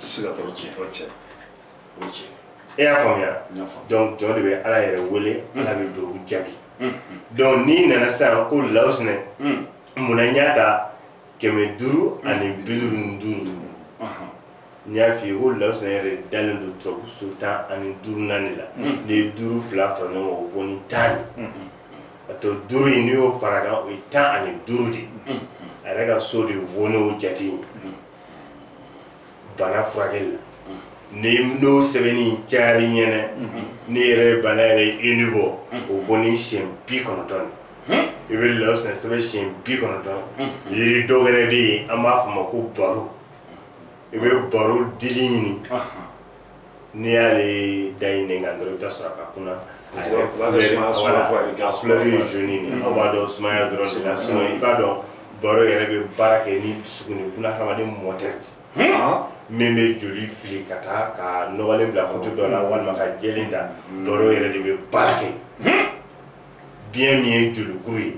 e y'a faamuya donc jɔn de bɛ ala yɛrɛ wele ala bɛ dugaw jaabi donc n'i nana sisan ko lawusinɛ mun na n y'a ta kɛmɛ duuru ani bi duuru ni duuru n y'a f'i ye ko lawusinɛ yɛrɛ dalen don turabu so tan ani duurunan in la n'i ye duuru fila fara ɲɔgɔn kan o bɔ ni tan de a to duuru in n'i y'o fara kan o ye tan ani duuru de a yɛrɛ ka so de wo n'o jate ye bana furakɛli la ni n'o sɛbɛnni cayara i ɲɛ na n'i yɛrɛ ye bana yɛrɛ ye i ni bɔ o bɔ ni siɲɛ bi kɔnɔntɔn de i bɛ lawusinɛ sɛbɛn siɲɛ bi kɔnɔntɔn yiri dɔ wɛrɛ bɛ yen an b'a fɔ o ma ko baro i bɛ baro dili ɲini n'i y'ale da i nɛn kan dɔrɔn i bɛ taa sɔrɔ a ka kunna a yɛrɛ kulɛri a kulɛri ye zoni de aw b'a dɔn sumaya dɔrɔn de la sinɔn i b'a dɔn baro yɛrɛ bɛ baara kɛ ni dusukun de buna hadamaden mɔtɛri min bɛ joli fili ka taa ka nɔgɔlen bila côté dɔ la walima ka jɛlen ta baro yɛrɛ de bɛ baara kɛ biɲɛ min ye jolikuru ye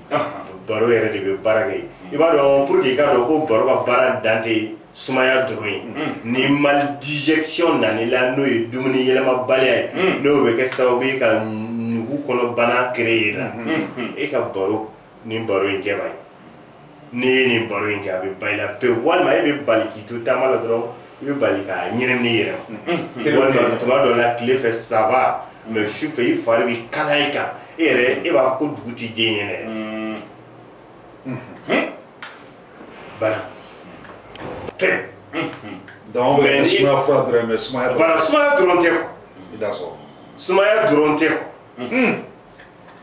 baro yɛrɛ de bɛ baara kɛ i b'a dɔn pour que i k'a dɔn ko baro ka baara dan tɛ sumaya dɔrɔn ye ni maldigestion nana i la n'o ye dumuni yɛlɛmabaliya ye n'o bɛ kɛ sababu ye ka nugu kɔnɔ bana créer i la e ka baro ni baro y'a kɛbaa ye n'i ye nin baro in kɛ a bɛ ban i la pewu walima e bɛ bali k'i to taama la dɔrɔn i bɛ bali k'a ɲɛnamini i yɛrɛ ma walima tuma dɔ la tile fɛ ça va mɛ su fɛ i fari bɛ kala i kan e yɛrɛ e b'a fɔ ko dugu tɛ jɛ ne ɲɛ dɛ bana tɛ donc mɛ sumaya fura dɔrɔn mɛ sumaya dɔrɔn bana sumaya dɔrɔn tɛ quoi i t'a sɔrɔ sumaya dɔrɔn tɛ quoi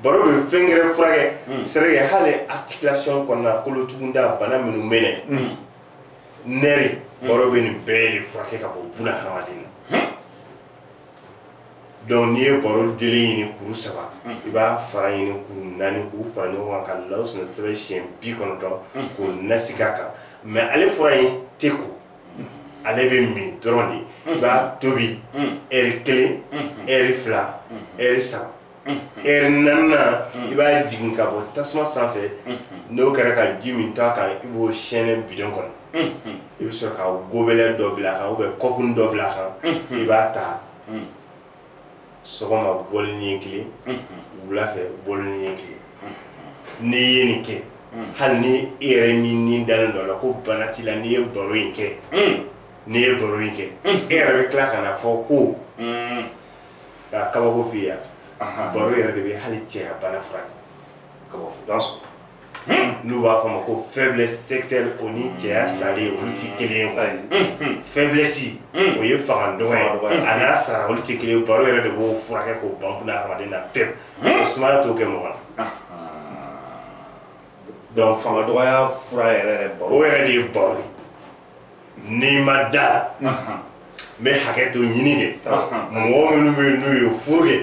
baro bɛ fɛn gɛrɛ furakɛ c'est vrai que hali articulation kɔnɔna kolotugunda bana minnu bɛ yen nɛri baro bɛ nin bɛɛ de furakɛ ka bɔ buna hadamaden na donc n'i ye baro dili ɲini kuru saba i b'a fara ɲini kuru naani k'u fara ɲɔgɔn kan ka law sɛnɛ sɛbɛn siɲɛ bi kɔnɔntɔn k'o nasi k'a kan mɛ ale fura in tɛ ko ale bɛ min dɔrɔn de i b'a tobi ɛri kelen ɛri fila ɛri saba ɛri naaninan i b'a jigin ka bɔ tasuma sanfɛ n'o kɛra ka ji min to a kan i b'o sɛnɛ bidɔn kɔnɔ i bɛ sɔrɔ ka gobelɛ dɔ bila a kan ubiyɛn kɔpuni dɔ bila a kan i b'a ta sɔgɔma bɔli ɲɛ kelen wula fɛ bɔli ɲɛ kelen n'i ye nin kɛ hali ni e yɛrɛ min n'i dalen don a la ko bana t'i la n'i ye baro in kɛ n'i ye baro in kɛ e yɛrɛ bɛ tila ka n'a fɔ ko k'a kabako f'i ye yan baro yɛrɛ de bɛ hali cɛya bana furakɛ kabako don n'u b'a fɔ a ma ko faiblesse sexuelle o ni cɛya salen olu ti kelen ye quoi faiblesse o ye fanga dɔgɔ ye a n'a sara olu ti kelen ye baro yɛrɛ de b'o furakɛ k'o ban buna hadamaden na pewu o sumaya t'o kɛ mɔgɔ la donc fanga dɔgɔya fura yɛrɛ yɛrɛ baro o yɛrɛ de ye baro ye n'i ma da n bɛ hakɛto ɲini kɛ mɔgɔ minnu bɛ yen n'u ye furu kɛ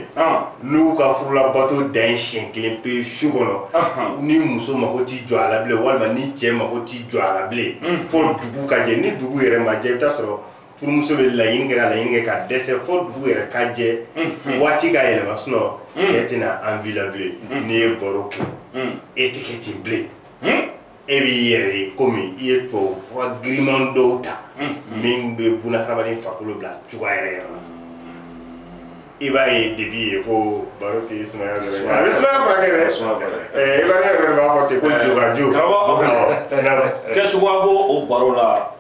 n'u ka furulabato dan ye siɲɛ kelen pe su kɔnɔ ni muso mako ti jɔ a la bilen walima ni cɛ mako ti jɔ a la bilen fo dugu ka jɛ ni dugu yɛrɛ ma jɛ i bɛ t'a sɔrɔ furumuso bɛ laɲini kɛ ka laɲini kɛ ka dɛsɛ fo dugu yɛrɛ ka jɛ waati ka yɛlɛma sinɔn cɛ tɛna envie la bilen n'i ye baro kɛ e tɛ kɛ ten bilen e b'i yɛrɛ ye komi i ye tubabu fura giriman dɔw ta min bɛ buna hadamaden farikolo bila cogoya yɛrɛ yɛrɛ la i b'a ye debi ye ko baro tɛ sumaya dɔrɔn ye a bɛ sumaya furakɛ dɛ i b'a ye yɛrɛ b'a fɔ ten ko jobaju kɛcogoya b'o o baro la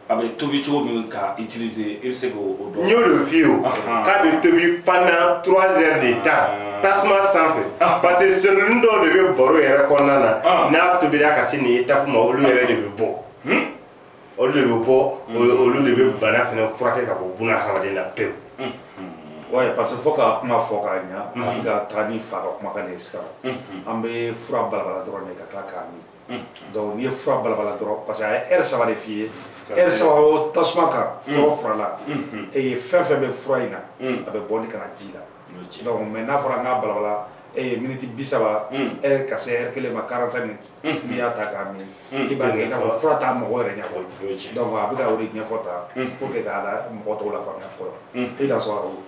a bɛ tobi cogo min k'a utiliser e bɛ se k'o dɔn. n y'o de f'i ye o k'a bɛ tobi pendant trois heures de temps ah. tasuma sanfɛ ah. parce que seloni dɔw de bɛ baro yɛrɛ kɔnɔna na ah. n'a tobira ka se nin étape ma olu yɛrɛ de bɛ bɔ hmm? olu de bɛ bɔ hmm. olu de bɛ bana fana furakɛ ka bɔ buna hadamaden na pewu. Hmm. Oui, parce que fo ka kuma fɔ ka ɲa ani ka taa ni fa ka kumakan de ye sisan an bɛ fura balabala dɔrɔn de ka tila k'a min donc n'i ye fura balabala dɔrɔn parce que a ye ɛri saba de f'i ye ɛri saba o tasuma kan fura fura la e ye fɛn fɛn bɛ fura in na a bɛ bɔ ni ka na ji la donc mɛ n'a fɔra n k'a balabala e ye miniti bi saba ɛri ka se ɛri kelen ma quarante cinq minutes n'i y'a ta k'a min i b'a kɛ i n'a fɔ fura t'a mɔgɔ yɛrɛ ɲɛfɔ donc a bɛ ka o de ɲɛfɔ tan pour que k'a la mɔgɔ tɔw lafaamuya kɔrɔ i da sɔrɔ o.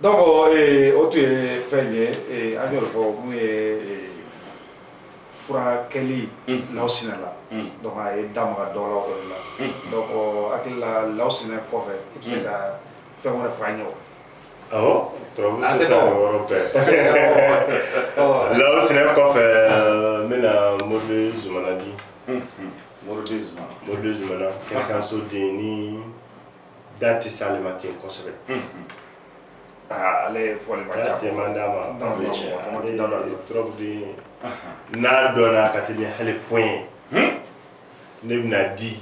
donc o tun ye fɛn ye a y'o de fɔ min ye furakɛli lawsinɛ la donc a ye da maga dɔ la o de la donc n hakili la lawsinɛ kɔfɛ i bɛ se ka fɛn wɛrɛ fɔ an ye o awɔ turabu si tan ni wɔɔrɔ bɛɛ lawsinɛ kɔfɛ n bɛna mori zumana di mori zumana mori zumana kɛɲɛka so den ni da tɛ se ale ma ten kosɛbɛ ah, ale ye fɔli ma ca se man d'a ma parce que ale ye trop de n'a dɔnna ka teli hali fɔn ye hmm? ne bɛn'a di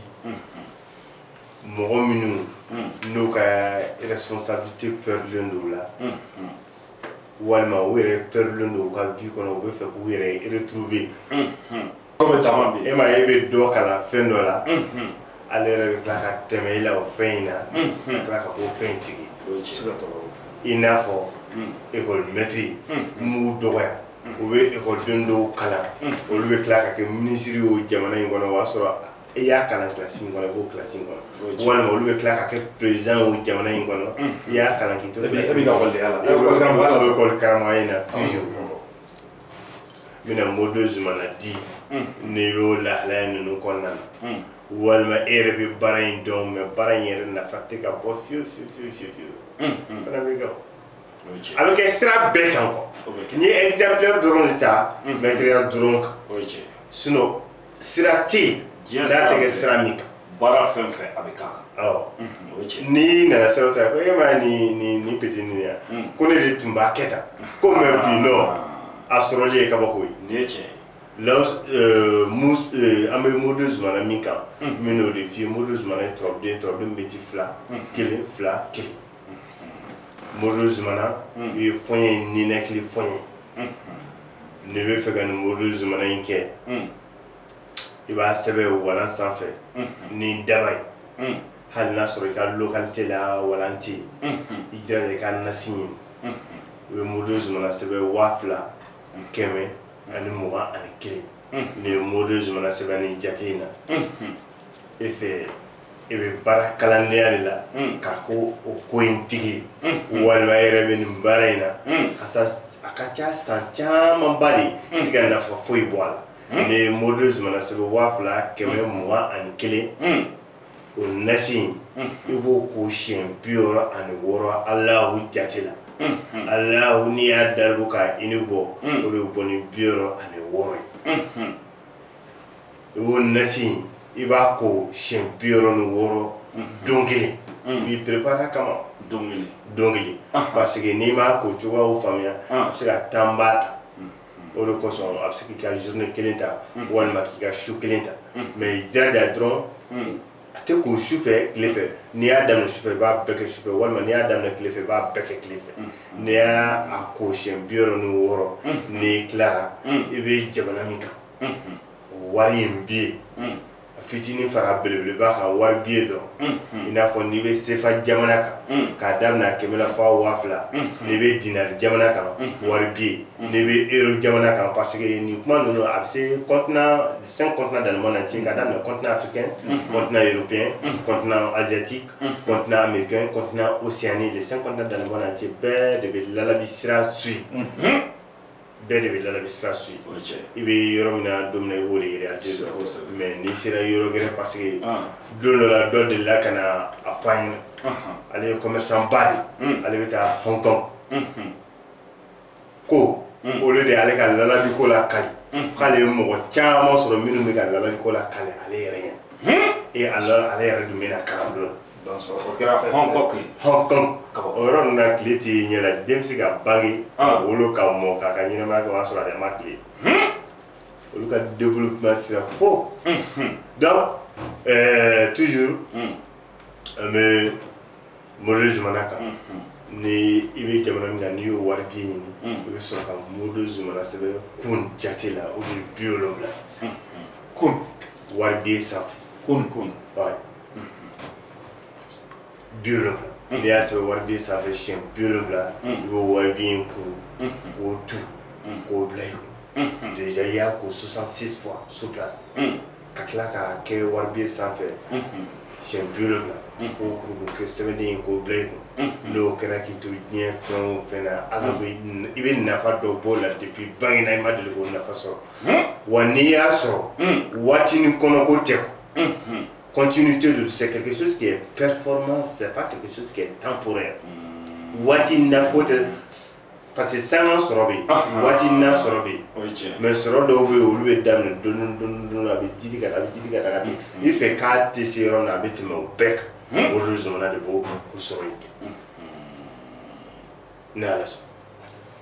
mɔgɔ minnu hmm. n'u ka responsabilité pɛrdilen don la hmm, walima u yɛrɛ pɛrdilen don u ka vie kɔnɔ u bɛ fɛ k'u yɛrɛ retrouver e ma e bɛ dɔ kalan fɛn dɔ la ale yɛrɛ bɛ tila ka tɛmɛ i la o fɛn in na ka tila ka k'o fɛn in tigi i n'a fɔ ekɔli mɛtiriw n m'u dɔgɔya u bɛ ekɔliden dɔw kalan olu bɛ tila ka kɛ minisiri y'o jamana in kɔnɔ o y'a sɔrɔ i y'a kalan kilasi min kɔnɔ i b'o kilasi in kɔnɔ walima olu bɛ tila ka kɛ perezidan o jamana in kɔnɔ i y'a kalan k'i to ekɔli karamɔgɔya in na n bɛna mori zumana di n'i bɛ o lahalaya ninnu kɔnɔna na walima e yɛrɛ bɛ baara in dɔn mɛ baara in yɛrɛ nafa tɛ ka bɔ fiyewu fiyewu fiyewu fiyewu fiyewu fana bɛ kɛ o a bɛ kɛ sira bɛɛ kan quoi n ye exemple dɔrɔn de ta mɛtiriya dɔrɔn kan sinon sira tɛ yen Diɲɛ n'a sira tɛ kɛ bɛɛ. sira min kan baara fɛn fɛn a bɛ k'a kan awɔ Mhm, o ye tiɲɛ n'i nana sira o sira ko e ma ye nin nin nin petit nin ya Mm. ko ne de tun b'a kɛ tan ko mais bi nɔ a sɔrɔli ye kabako ye nin ye tiɲɛ ye law euh, mus euh, an bɛ morido zumana min kan Mm. min n'o de f'i ye morido zumana ye turabuden ye turabuden min bɛ ti fila Mm. kelen fila kelen morido zumana hmm. i ye fɔɲɛ ye ninakili fɔɲɛ hmm. n'i bɛ fɛ ka nin morido zumana in kɛ hmm. i b'a sɛbɛn walan sanfɛ ni daba ye hali n'a sɔrɔ i ka localité la walan tɛ yen i jija i ka nasi ɲini i bɛ morido zumana sɛbɛn waa fila kɛmɛ ani mugan ani kelen n'i ye morido zumana sɛbɛn nin jate in na e fɛ e bɛ baara kalandenya de la hmm. k'a ko o ko in tigi hmm, hmm. walima e yɛrɛ bɛ nin baara in na ka sa a ka ca san camanba de i tɛ ka nafa foyi bɔ a la n'i ye morido zumana sɛbɛn waa fila kɛmɛ mugan ani kelen o nasi in i b'o ko siɲɛ bi wɔɔrɔ ani wɔɔrɔ alahu jate la alahu n'i y'a daribu k'a ini bɔ o de bɛ bɔ ni bi wɔɔrɔ ani wɔɔrɔ ye i b'o nasi in i b'a ko siɲɛ bi wɔɔrɔ ni wɔɔrɔ don kelen i b'i préparer kama don kelen don kelen parce que n'i m'a ko cogoyaw faamuya a bɛ se ka temps ba ta o de kosɔn a bɛ se k'i ka journée kelen ta walima k'i ka su kelen ta mais i jija dɔrɔn a tɛ ko su fɛ tile fɛ n'i y'a daminɛ su fɛ i b'a bɛɛ kɛ su fɛ walima n'i y'a daminɛ tile fɛ i b'a bɛɛ kɛ tile fɛ n'i y'a ko siɲɛ bi wɔɔrɔ ni wɔɔrɔ n'i tilara i bɛ jamana min kan o wari in bɛ yen fitinin fara belebeleba kan wari bɛ yen dɔrɔn i n'a fɔ n'i bɛ sefa jamana kan k'a daminɛ a kɛmɛ la fɔ a waa fila n'i bɛ dinari jamana kan wari bɛ yen n'i bɛ euro jamana kan parce que nin kuma ninnu a bɛ se cinq continents dan na cɛ ka daminɛ continent africain continent européen continent asiatique continent américain continent océanie les cinq continents dan na cɛ bɛɛ de bɛ lalabi sira suivi bɛɛ de bɛ lalabi sira suivi i bɛ yɔrɔ min na don min na i b'o de yɛrɛ ate dɔn mais n'i sera yɔrɔ gɛrɛ parce que don dɔ la dɔ delila ka na a fɔ n ɲɛna ale ye commerçant ba de ale bɛ taa hong kong ko olu de ale ka lalabi ko lakali k'ale ye mɔgɔ caman sɔrɔ minnu bɛ ka lalabi ko lakali ale yɛrɛ ɲɛ e ale yɛrɛ dun bɛ na kalan don o kɛra Hong Kong kiri Hong Kong o yɔrɔ ninnu na tile tɛ ɲɛ la den bɛ se ka bange ka ah. wolo ka mɔ k'a ka ɲɛnɛmaya kɛ o y'a sɔrɔ a yɛrɛ ma tile hmm? olu ka développement sira fo hmm, hmm. donc euh, toujours an bɛ modo zumana kan ni i bɛ jamana min kan n'i y'o wari biye ɲini i bɛ sɔrɔ ka modo zumana sɛbɛn kun jate la o de bi wolonwula kun wari biye sanfɛ kun kun bi wolonwula n'i y'a sɛbɛn wari biye sanfɛ siyɛn bi wolonwula i b'o wari biye in kuru k'o tu k'o bila yen déjà i y'a ko 66 fois sur place ka tila k'a kɛ wari biye sanfɛ siyɛn bi wolonwula k'o kuru k'o kɛ sɛbɛnden ye k'o bila i kun n'o kɛra k'i to diɲɛ fan o fan na ala bɛ i bɛ nafa dɔ b'o la depuis bangena i ma deli k'o nafa sɔrɔ wa n'i y'a sɔrɔ waatinin kɔnɔ ko tɛ continuité don c'est quelque chose qui est performance c'est pas quelque chose qui est temporaire hmm. waati na ko tɛ parce que sanga sɔrɔ bɛ yen ah, ah. waati na sɔrɔ bɛ yen mais sɔrɔ dɔw bɛ yen olu bɛ daminɛ dɔɔni dɔɔni dɔɔni a bɛ jiidi ka taa a bɛ jiidi ka taa ka taa hmm. i fɛ k'a tɛ se yɔrɔ min na a bɛ tɛmɛ o bɛɛ kan hmm. modo zumana de b'o o sɔrɔ in kɛ ni ala sɔn.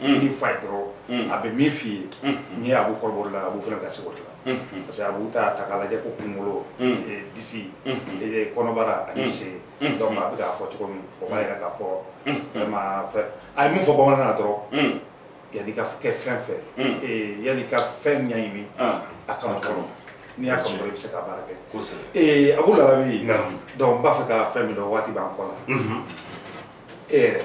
Mm. ni fa ye dɔrɔn mm. a bɛ min f'i ye mm. n'i ye abu kɔrɔbɔ o de la abu fana ka se o de la parce que abu t'a ta k'a lajɛ ko kunkolo eh, disi eh, kɔnɔbara ani sen donc a bɛ k'a fɔ cogo min o b'a yira k'a fɔ vraiment a ye min fɔ bamanankan na dɔrɔn yanni ka kɛ fɛn fɛn eh, yanni ka fɛn ɲɛɲini ah. a kanu kɔnɔ n'i y'a kanu dɔrɔn i bɛ se ka baara kɛ abu larabi donc n b'a fɛ ka fɛn min dɔn waati b'an kɔ la e yɛrɛ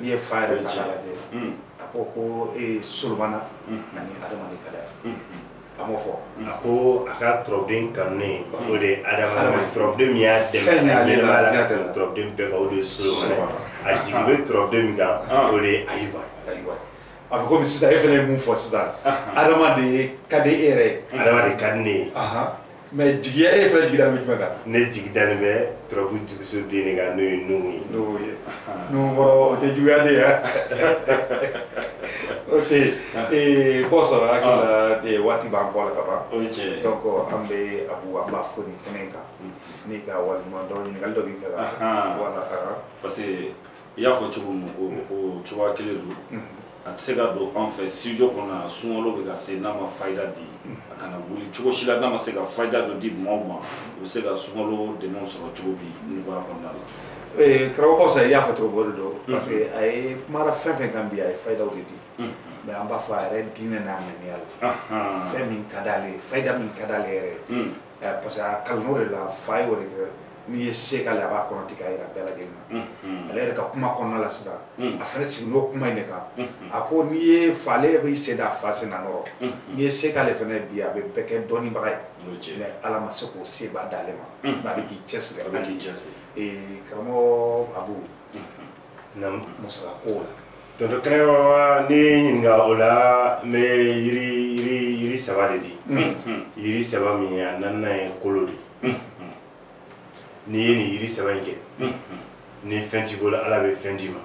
n'i ye fa yɛrɛ ta k'a lajɛ a ko ko e ye solomana ani adama de ka d'a ye a m'o fɔ a ko a ka turabuden kanunen o de ye adama ye turabuden min y'a dɛmɛ a ɲɛnɛma la ka tɛmɛ turabuden bɛɛ kan o de ye solomana ye a jigi bɛ turabuden min kan o de ye ayuba ye a bɛ komi sisan e fana ye mun fɔ sisan adama de ka di e yɛrɛ ye adama de ka di ne ye mais jigiya e fɛnɛ jigi dalen bɛ jumɛn kan ne jigi dalen bɛ turabu juguso den de kan n'o ye nuhu ye nuhu ye nuhu kɔrɔ o tɛ juguya de ye ok ee bɔ sɔrɔ hakili la ee waati b'an kɔ la ka ban o ye tiɲɛ ye donc an bɛ abu an b'i fo nin kɛnɛ in kan n'i ka waleɲuman dɔn ɲininkali dɔ b'i fɛ ka wala parce que i y'a fɔ cogo min o o cogoya kelen don mhm. a tɛ se ka don an fɛ studio kɔnɔ yan sunkalo bɛ ka se n'a ma fayida di mhm. a kana wuli cogo si la n'a ma se ka fayida dɔ di maaw ma u bɛ se ka sunkalo dɛmɛw sɔrɔ cogo di nɔgɔya kɔnɔna la. Eh, karamɔgɔ sa i y'a fɔ cogo o de don mhm. parce que a ye kumara fɛn o fɛn kan bi a ye fayidaw de di mais an b'a fɔ a yɛrɛ diinɛ n'a ŋaniya la fɛn min ka d'ale ye fayida min ka d'ale yɛrɛ ye eh, parce que a kalann'o de la fa ye o de kɛ n'i ye se k'ale a b'a kɔnɔ tigɛ a yira bɛɛ lajɛlen na mm-hmm. ale yɛrɛ ka kuma kɔnɔna la sisan mm. a fana siginn'o kuma in de kan mm-hmm. a ko n'i ye fa ale b'i sen da fa sen na nɔ rɔ mm-hmm. n'i ye se k'ale fana bi a bɛ bɛɛ kɛ dɔnnibaga ye mais ala ma se k'o seba d'ale ma mais a bɛ k'i cɛsiri karamɔgɔ abu na masala ko la tonton kɛnɛba ne ye ɲininka o la n bɛ yiri yiri yiri saba de di yiri saba min ye a naaninan ye kolo de n'i ye nin yiri saba in kɛ ni fɛn t'i bolo ala bɛ fɛn d'i ma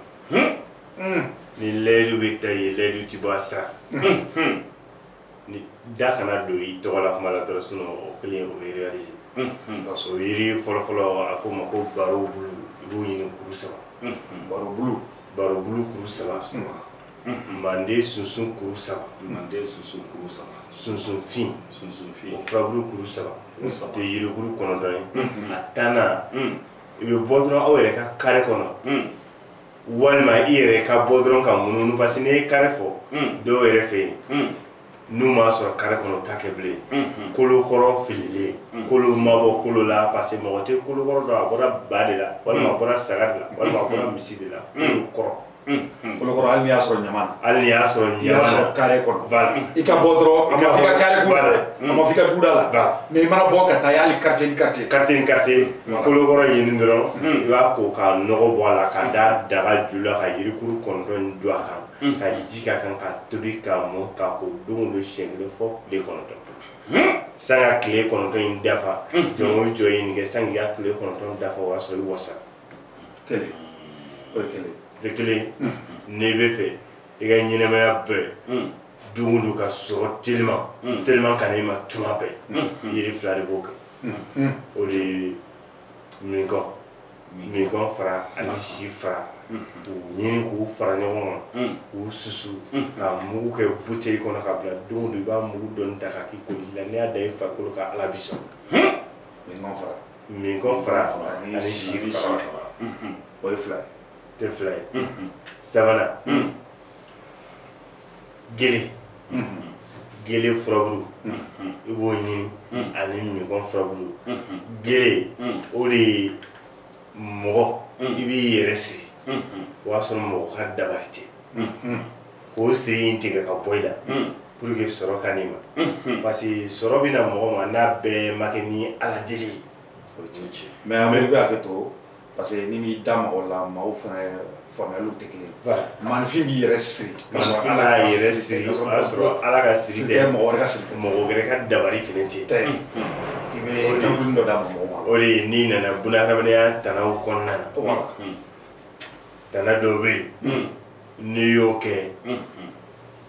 ni layidu bɛ ta ye layidu ti bɔ a sira fɛ ni da kana don i tɔgɔ la kuma la dɔrɔn sinon o kelen o bɛ réaliser parce que o yiri fɔlɔfɔlɔ a fɔ o ma ko baro bulu i b'o ɲini kuru saba baro bulu baro bulu kuru saba mande sunsun kuru saba mande sunsun kuru saba sunsun fin sunsun fin o furabulu kuru saba o tɛ yirikuru kɔnɔntɔn ye a tannan i bɛ bɔ dɔrɔn aw yɛrɛ ka kare kɔnɔ walima i yɛrɛ ka bɔ dɔrɔn ka mununu parce que n'i ye kare fɔ hmm. dɔw yɛrɛ fɛ yen hmm. n'u m'a sɔrɔ kare kɔnɔ t'a kɛ bilen hmm, kolo kɔrɔ fililen kolo ma bɔ kolo la parce que mɔgɔ tɛ kolo kɔrɔ dɔn a bɔra ba de la walima a bɔra saga de la walima a bɔra misi de la kolo kɔrɔ kolo kɔrɔ hali n'i y'a sɔrɔ ɲama na hali n'i y'a sɔrɔ ɲama na kare kɔnɔ i ka bɔ dɔrɔn a ma fɔ i ka kare kɔnɔ a ma f'i ka du da la mais i mana bɔ ka taa yaala quartier ni quartier quartier ni quartier kolokɔrɔ ɲini dɔrɔn i b'a ko ka nɔgɔ bɔ a la k'a da daga ju la ka yirikuru kɔnɔntɔn don a kan ka ji k'a kan k'a tobi k'a mɔ ka ko don don siɲɛ kelen fo tile kɔnɔntɔn sanni ka tile kɔnɔntɔn in dafa jɔn o jɔn ye nin kɛ sanni ka tile kɔnɔntɔn dafa o y'a sɔrɔ i wasa kelen o ye kelen tɛ kelen n'i b'a fɛ i ka ɲɛnɛmaya bɛɛ don don ka sɔrɔ telima telima ka na i ma tuma bɛɛ yiri fila de b'o kɛ o de ye minkɔn minkɔn fara ani si fara k'u ɲini k'u fara ɲɔgɔn kan k'u susu k'a mugu kɛ buteli kɔnɔ k'a bila don don i b'a mugu dɔɔni ta k'a k'i koli la n'i y'a da i farikolo kan ala bi sɔn minkɔn fara minkɔn fara ani si fara o ye fila ye tɛ fila ye mm-hmm. sabanan mm-hmm. gele mm-hmm. gele furabulu i b'o ɲini ani minkɔn furabulu gele o de ye mɔgɔ i b'i yɛrɛ siri o y'a sɔrɔ mɔgɔ ka dabari tɛ k'o siri in tigɛ ka bɔ i la pour que sɔrɔ ka n'i ma parce que sɔrɔ bɛ na mɔgɔ ma n'a bɛɛ ma kɛ ni ala deli ye o t'o tiɲɛ mais an bɛ bɛ hakɛ to parce que n'i m'i da mɔgɔ la mɔgɔw fana faamuyaliw tɛ kelen ye maaninfin b'i yɛrɛ siri k'a sɔrɔ ala y'a yɛrɛ siri o y'a sɔrɔ ala ka siri tɛ mɔgɔ wɛrɛ ka siri tɛ mɔgɔ wɛrɛ ka dabali fana tɛ tɛ i bɛ jɛkulu dɔ d'a ma mɔgɔw ma o de ye n'i nana bunahadamadenya tanaw kɔnɔna na tana dɔw bɛ yen n'i y'o kɛ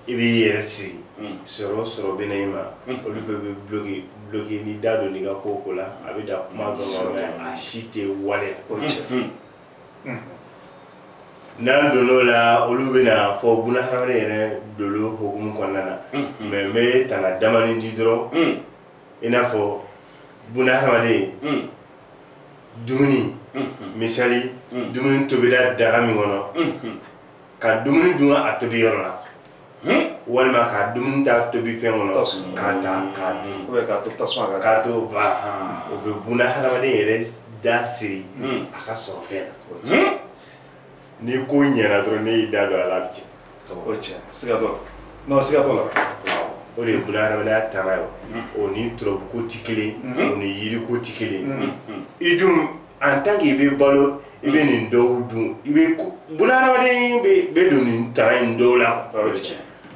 i b'i yɛrɛ siri sɔrɔ sɔrɔ bɛ na i ma olu bɛɛ bɛ bloki bloki n'i da donn'i ka ko ko la a bɛ da kuma don mais a si tɛ waleya ko cɛ n'an donn'o la olu bɛna fɔ bunahadamaden yɛrɛ dolo hokumu kɔnɔna na mais n bɛ tanga damanin di dɔrɔn i n'a fɔ bunahadamaden dumuni misali dumuni tobira daga min kɔnɔ ka dumuni dun a tobi yɔrɔ la hmm? walima ka dumuni ta tobi fɛn kɔnɔ k'a ta k'a dun k'a to tasuma kan k'a to ba o bɛ bunahadamaden yɛrɛ da siri hmm. a ka sɔrɔ fɛn na hmm? n'i ko ɲɛna dɔrɔn n'e y'i da don a la a bɛ tiɲɛ o tiɲɛ siga t'o la n'o siga t'o la o de ye bunahadamadenya tana ye o ni turabuko tɛ kelen o ni yiriko tɛ kelen i dun en tant que i bɛ balo i bɛ nin dɔw dun i bɛ bunahadamaden bɛɛ bɛ don nin tana in dɔw la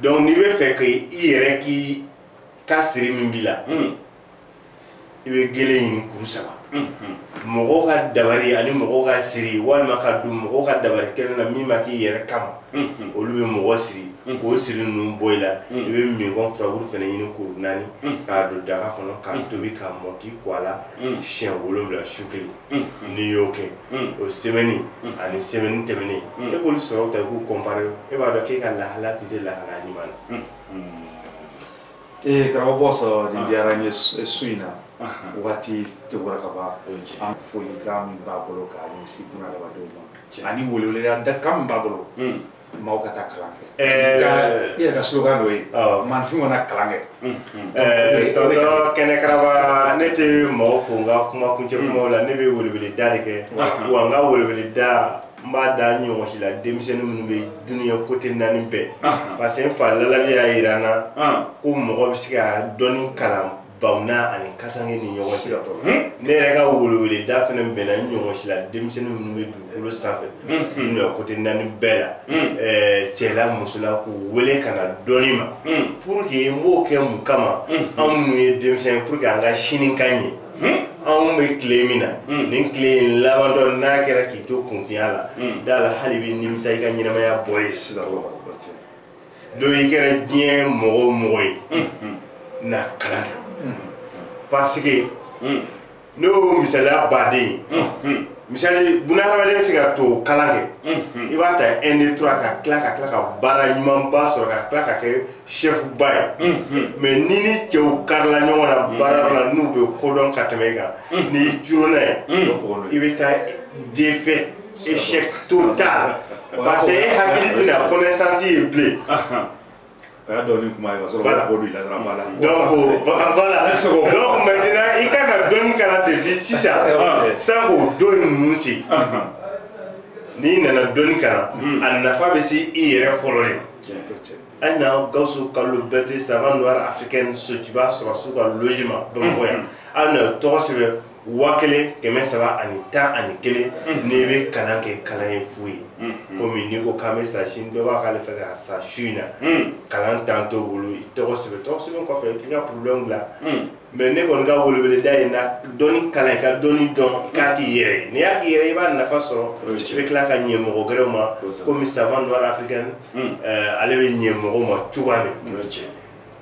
donc n'i b'a fɛ k'i i yɛrɛ k'i ka siri min b'i la i bɛ gele ɲini kuru saba mɔgɔw ka dabari ani mɔgɔw ka siri walima ka don mɔgɔw ka dabari kɛnɛ na min ma k'i yɛrɛ kama olu bɛ mɔgɔ siri k'o siri ninnu bɔ i la i bɛ mingɔn furaburu fana ɲini kuru naani k'a don daga kɔnɔ k'a tobi k'a mɔ k'i ko a la siɲɛ wolonwula su kelen n'i y'o kɛ o sɛmɛni ani sɛmɛni tɛmɛnen e k'olu sɔrɔw ta i k'u kɔnpare e b'a dɔn k'e ka lahala tun tɛ lahala ɲuman na ee karamɔgɔ bɔ sɔrɔ nin diyara n ye su in na waati tɛgɔra ka ban an folikan min b'a bolo k'a ɲɛsin bunadamadenw ma ani weleweleda kan min b'a bolo maaw ka taa kalan kɛ Ɛɛ. Ka- i yɛrɛ ka slogan dɔ ye Awɔ. maaninfin ka na kalan kɛ Ɛɛ, tɔntɔn kɛnɛkaraba ne tɛ mɔgɔ fo n ka kuma kuncɛ kumaw la ne bɛ weleweleda de kɛ wa n ka weleweleda n b'a da n ɲɔgɔn si la denmisɛnnin minnu bɛ dunuya kote naani bɛɛ parce que n fa lalabi y'a jira n na ko mɔgɔ bɛ se ka dɔnni kalan bamunan ani kasange ni ɲɔgɔn cɛ ne yɛrɛ ka weleweleda fana bɛnna n ɲɔgɔn si la denmisɛnnin minnu bɛ dugukolo sanfɛ dunuya kote naani bɛɛ la cɛla musola k'u wele ka na dɔnni ma pour que n b'o kɛ mun kama an minnu ye denmisɛn pour que an ka sini ka ɲɛ anw bɛ tile min na nin tile in labantɔ n'a kɛra k'i to kunfinya la da la hali i bɛ nimisa i ka ɲɛnamaya bɔ ye sisan donc i kɛra diɲɛ mɔgɔ o mɔgɔ ye na kalan kɛ parce que ne y'o misaliya baden ye misali buna hadamaden bɛ se ka to kalan kɛ i b'a ta un deux trois ka tila ka tila ka baara ɲumanba sɔrɔ ka tila ka kɛ chefba ye mais n'i ni cɛw karila ɲɔgɔn na baara yɔrɔ la n'u bɛ ko dɔn ka tɛmɛ i kan n'i coronna ye i bɛ taa défaite échec total parce que e hakili tɛna connaissance ye bilen o ye dɔnni kuma ye ka sɔrɔ ka bɔ don i la dɔrɔn b'a la donc voilà donc maintenant i ka na dɔnni kalan depuis sisan san'o don ninnu se n'i nana dɔnni kalan a nafa bɛ se i yɛrɛ fɔlɔ de an na gawusu kalilu bɛrɛte savant noir africaine sotuba sɔrɔdasiw ka logement bamakɔ yan an na tɔgɔ sɛbɛn waa kelen kɛmɛ saba ani tan ani kelen mm. n'i bɛ kalan kɛ kalan ye fu ye mm, mm. komi n'i ko k'an bɛ sa sini dɔ b'a k'ale fɛ ka sa su in n'a kalan temps t'o bolo i tɔgɔ sɛbɛn tɔgɔ sɛbɛn kɔfɛ i k'i ka problème bila mais ne kɔni ka weleweleda ye na dɔnni kalan i ka dɔnni dɔn i k'a k'i yɛrɛ ye n'i y'a k'i yɛrɛ i b'a nafa sɔrɔ i bɛ tila ka ɲɛ mɔgɔ gɛrɛw ma komi savant noir africaine euh, ale bɛ ɲɛ mɔgɔw ma cogoya min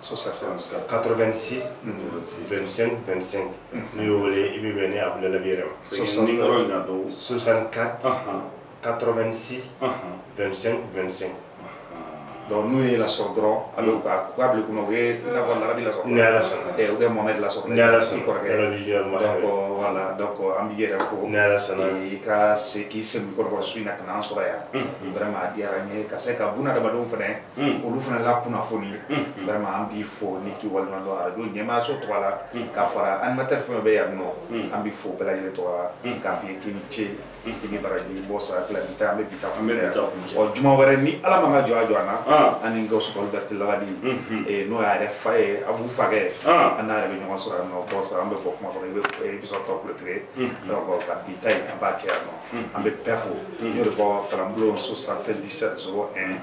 86 25 25 n'i y'o wele i bɛ bɛn ni abudulayi yɛrɛ ma 64 86 25 25 donc n'u ye lasɔrɔ dɔrɔn a bɛ ka k'a bila kunna u ye i n'a fɔ larabi lasɔrɔ ni ala sɔnna ɛ u bɛ mohamɛdi lasɔrɔ ni ala sɔnna i kɔrɔkɛ larabi jɔli ma donc voilà donc an b'i yɛrɛ fo ni ala sɔnna i ka se k'i sɛmɛ kɔrɔkɔrɔ su in na ka na an sɔrɔ yan vraiment a diyara n ye ka se ka buna adamadenw fana Mm. olu fana la kunnafoni mm, mm. vraiment an b'i fo ani k'i waleɲumandɔn arajo ɲɛmaayaso tɔgɔ la ka fara animateur fɛn bɛ yan nɔ an b'i fo bɛɛ lajɛlen tɔgɔ la k'a f'i ye k'i ni ce i ni baraji bɔ sara fila bi ta an bɛ bi ta kun bɛɛ ɔ juma wɛrɛ ni ala man ka jɔ a jɔ an na ah. an ni gawusu kalilu bɛrɛte lagadi mm-hmm. eh, n'o y'a yɛrɛ fa ye a b'u fakɛ ah. an n'a yɛrɛ bɛ ɲɔgɔn sɔrɔ yan nɔ bɔ sara an bɛ bɔ kuma kɔnɔ i bɛ i bɛ sɔrɔ tɔ kulo tigɛ donc ka bi ta in an b'a cɛ yan nɔ an bɛ bɛɛ fo n y'o de fɔ kalanbulon 77 01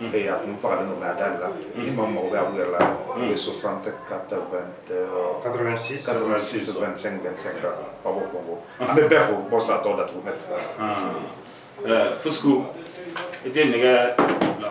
ee a tun fagalen don nka a dali la ni maa mago bɛ abu yɛrɛ la o ye 60 80 86 86 25 25 la ba b'o kɔngo an bɛ bɛɛ fo bɔ sa tɔw datugu mɛ fusku i tɛ nɛgɛ bila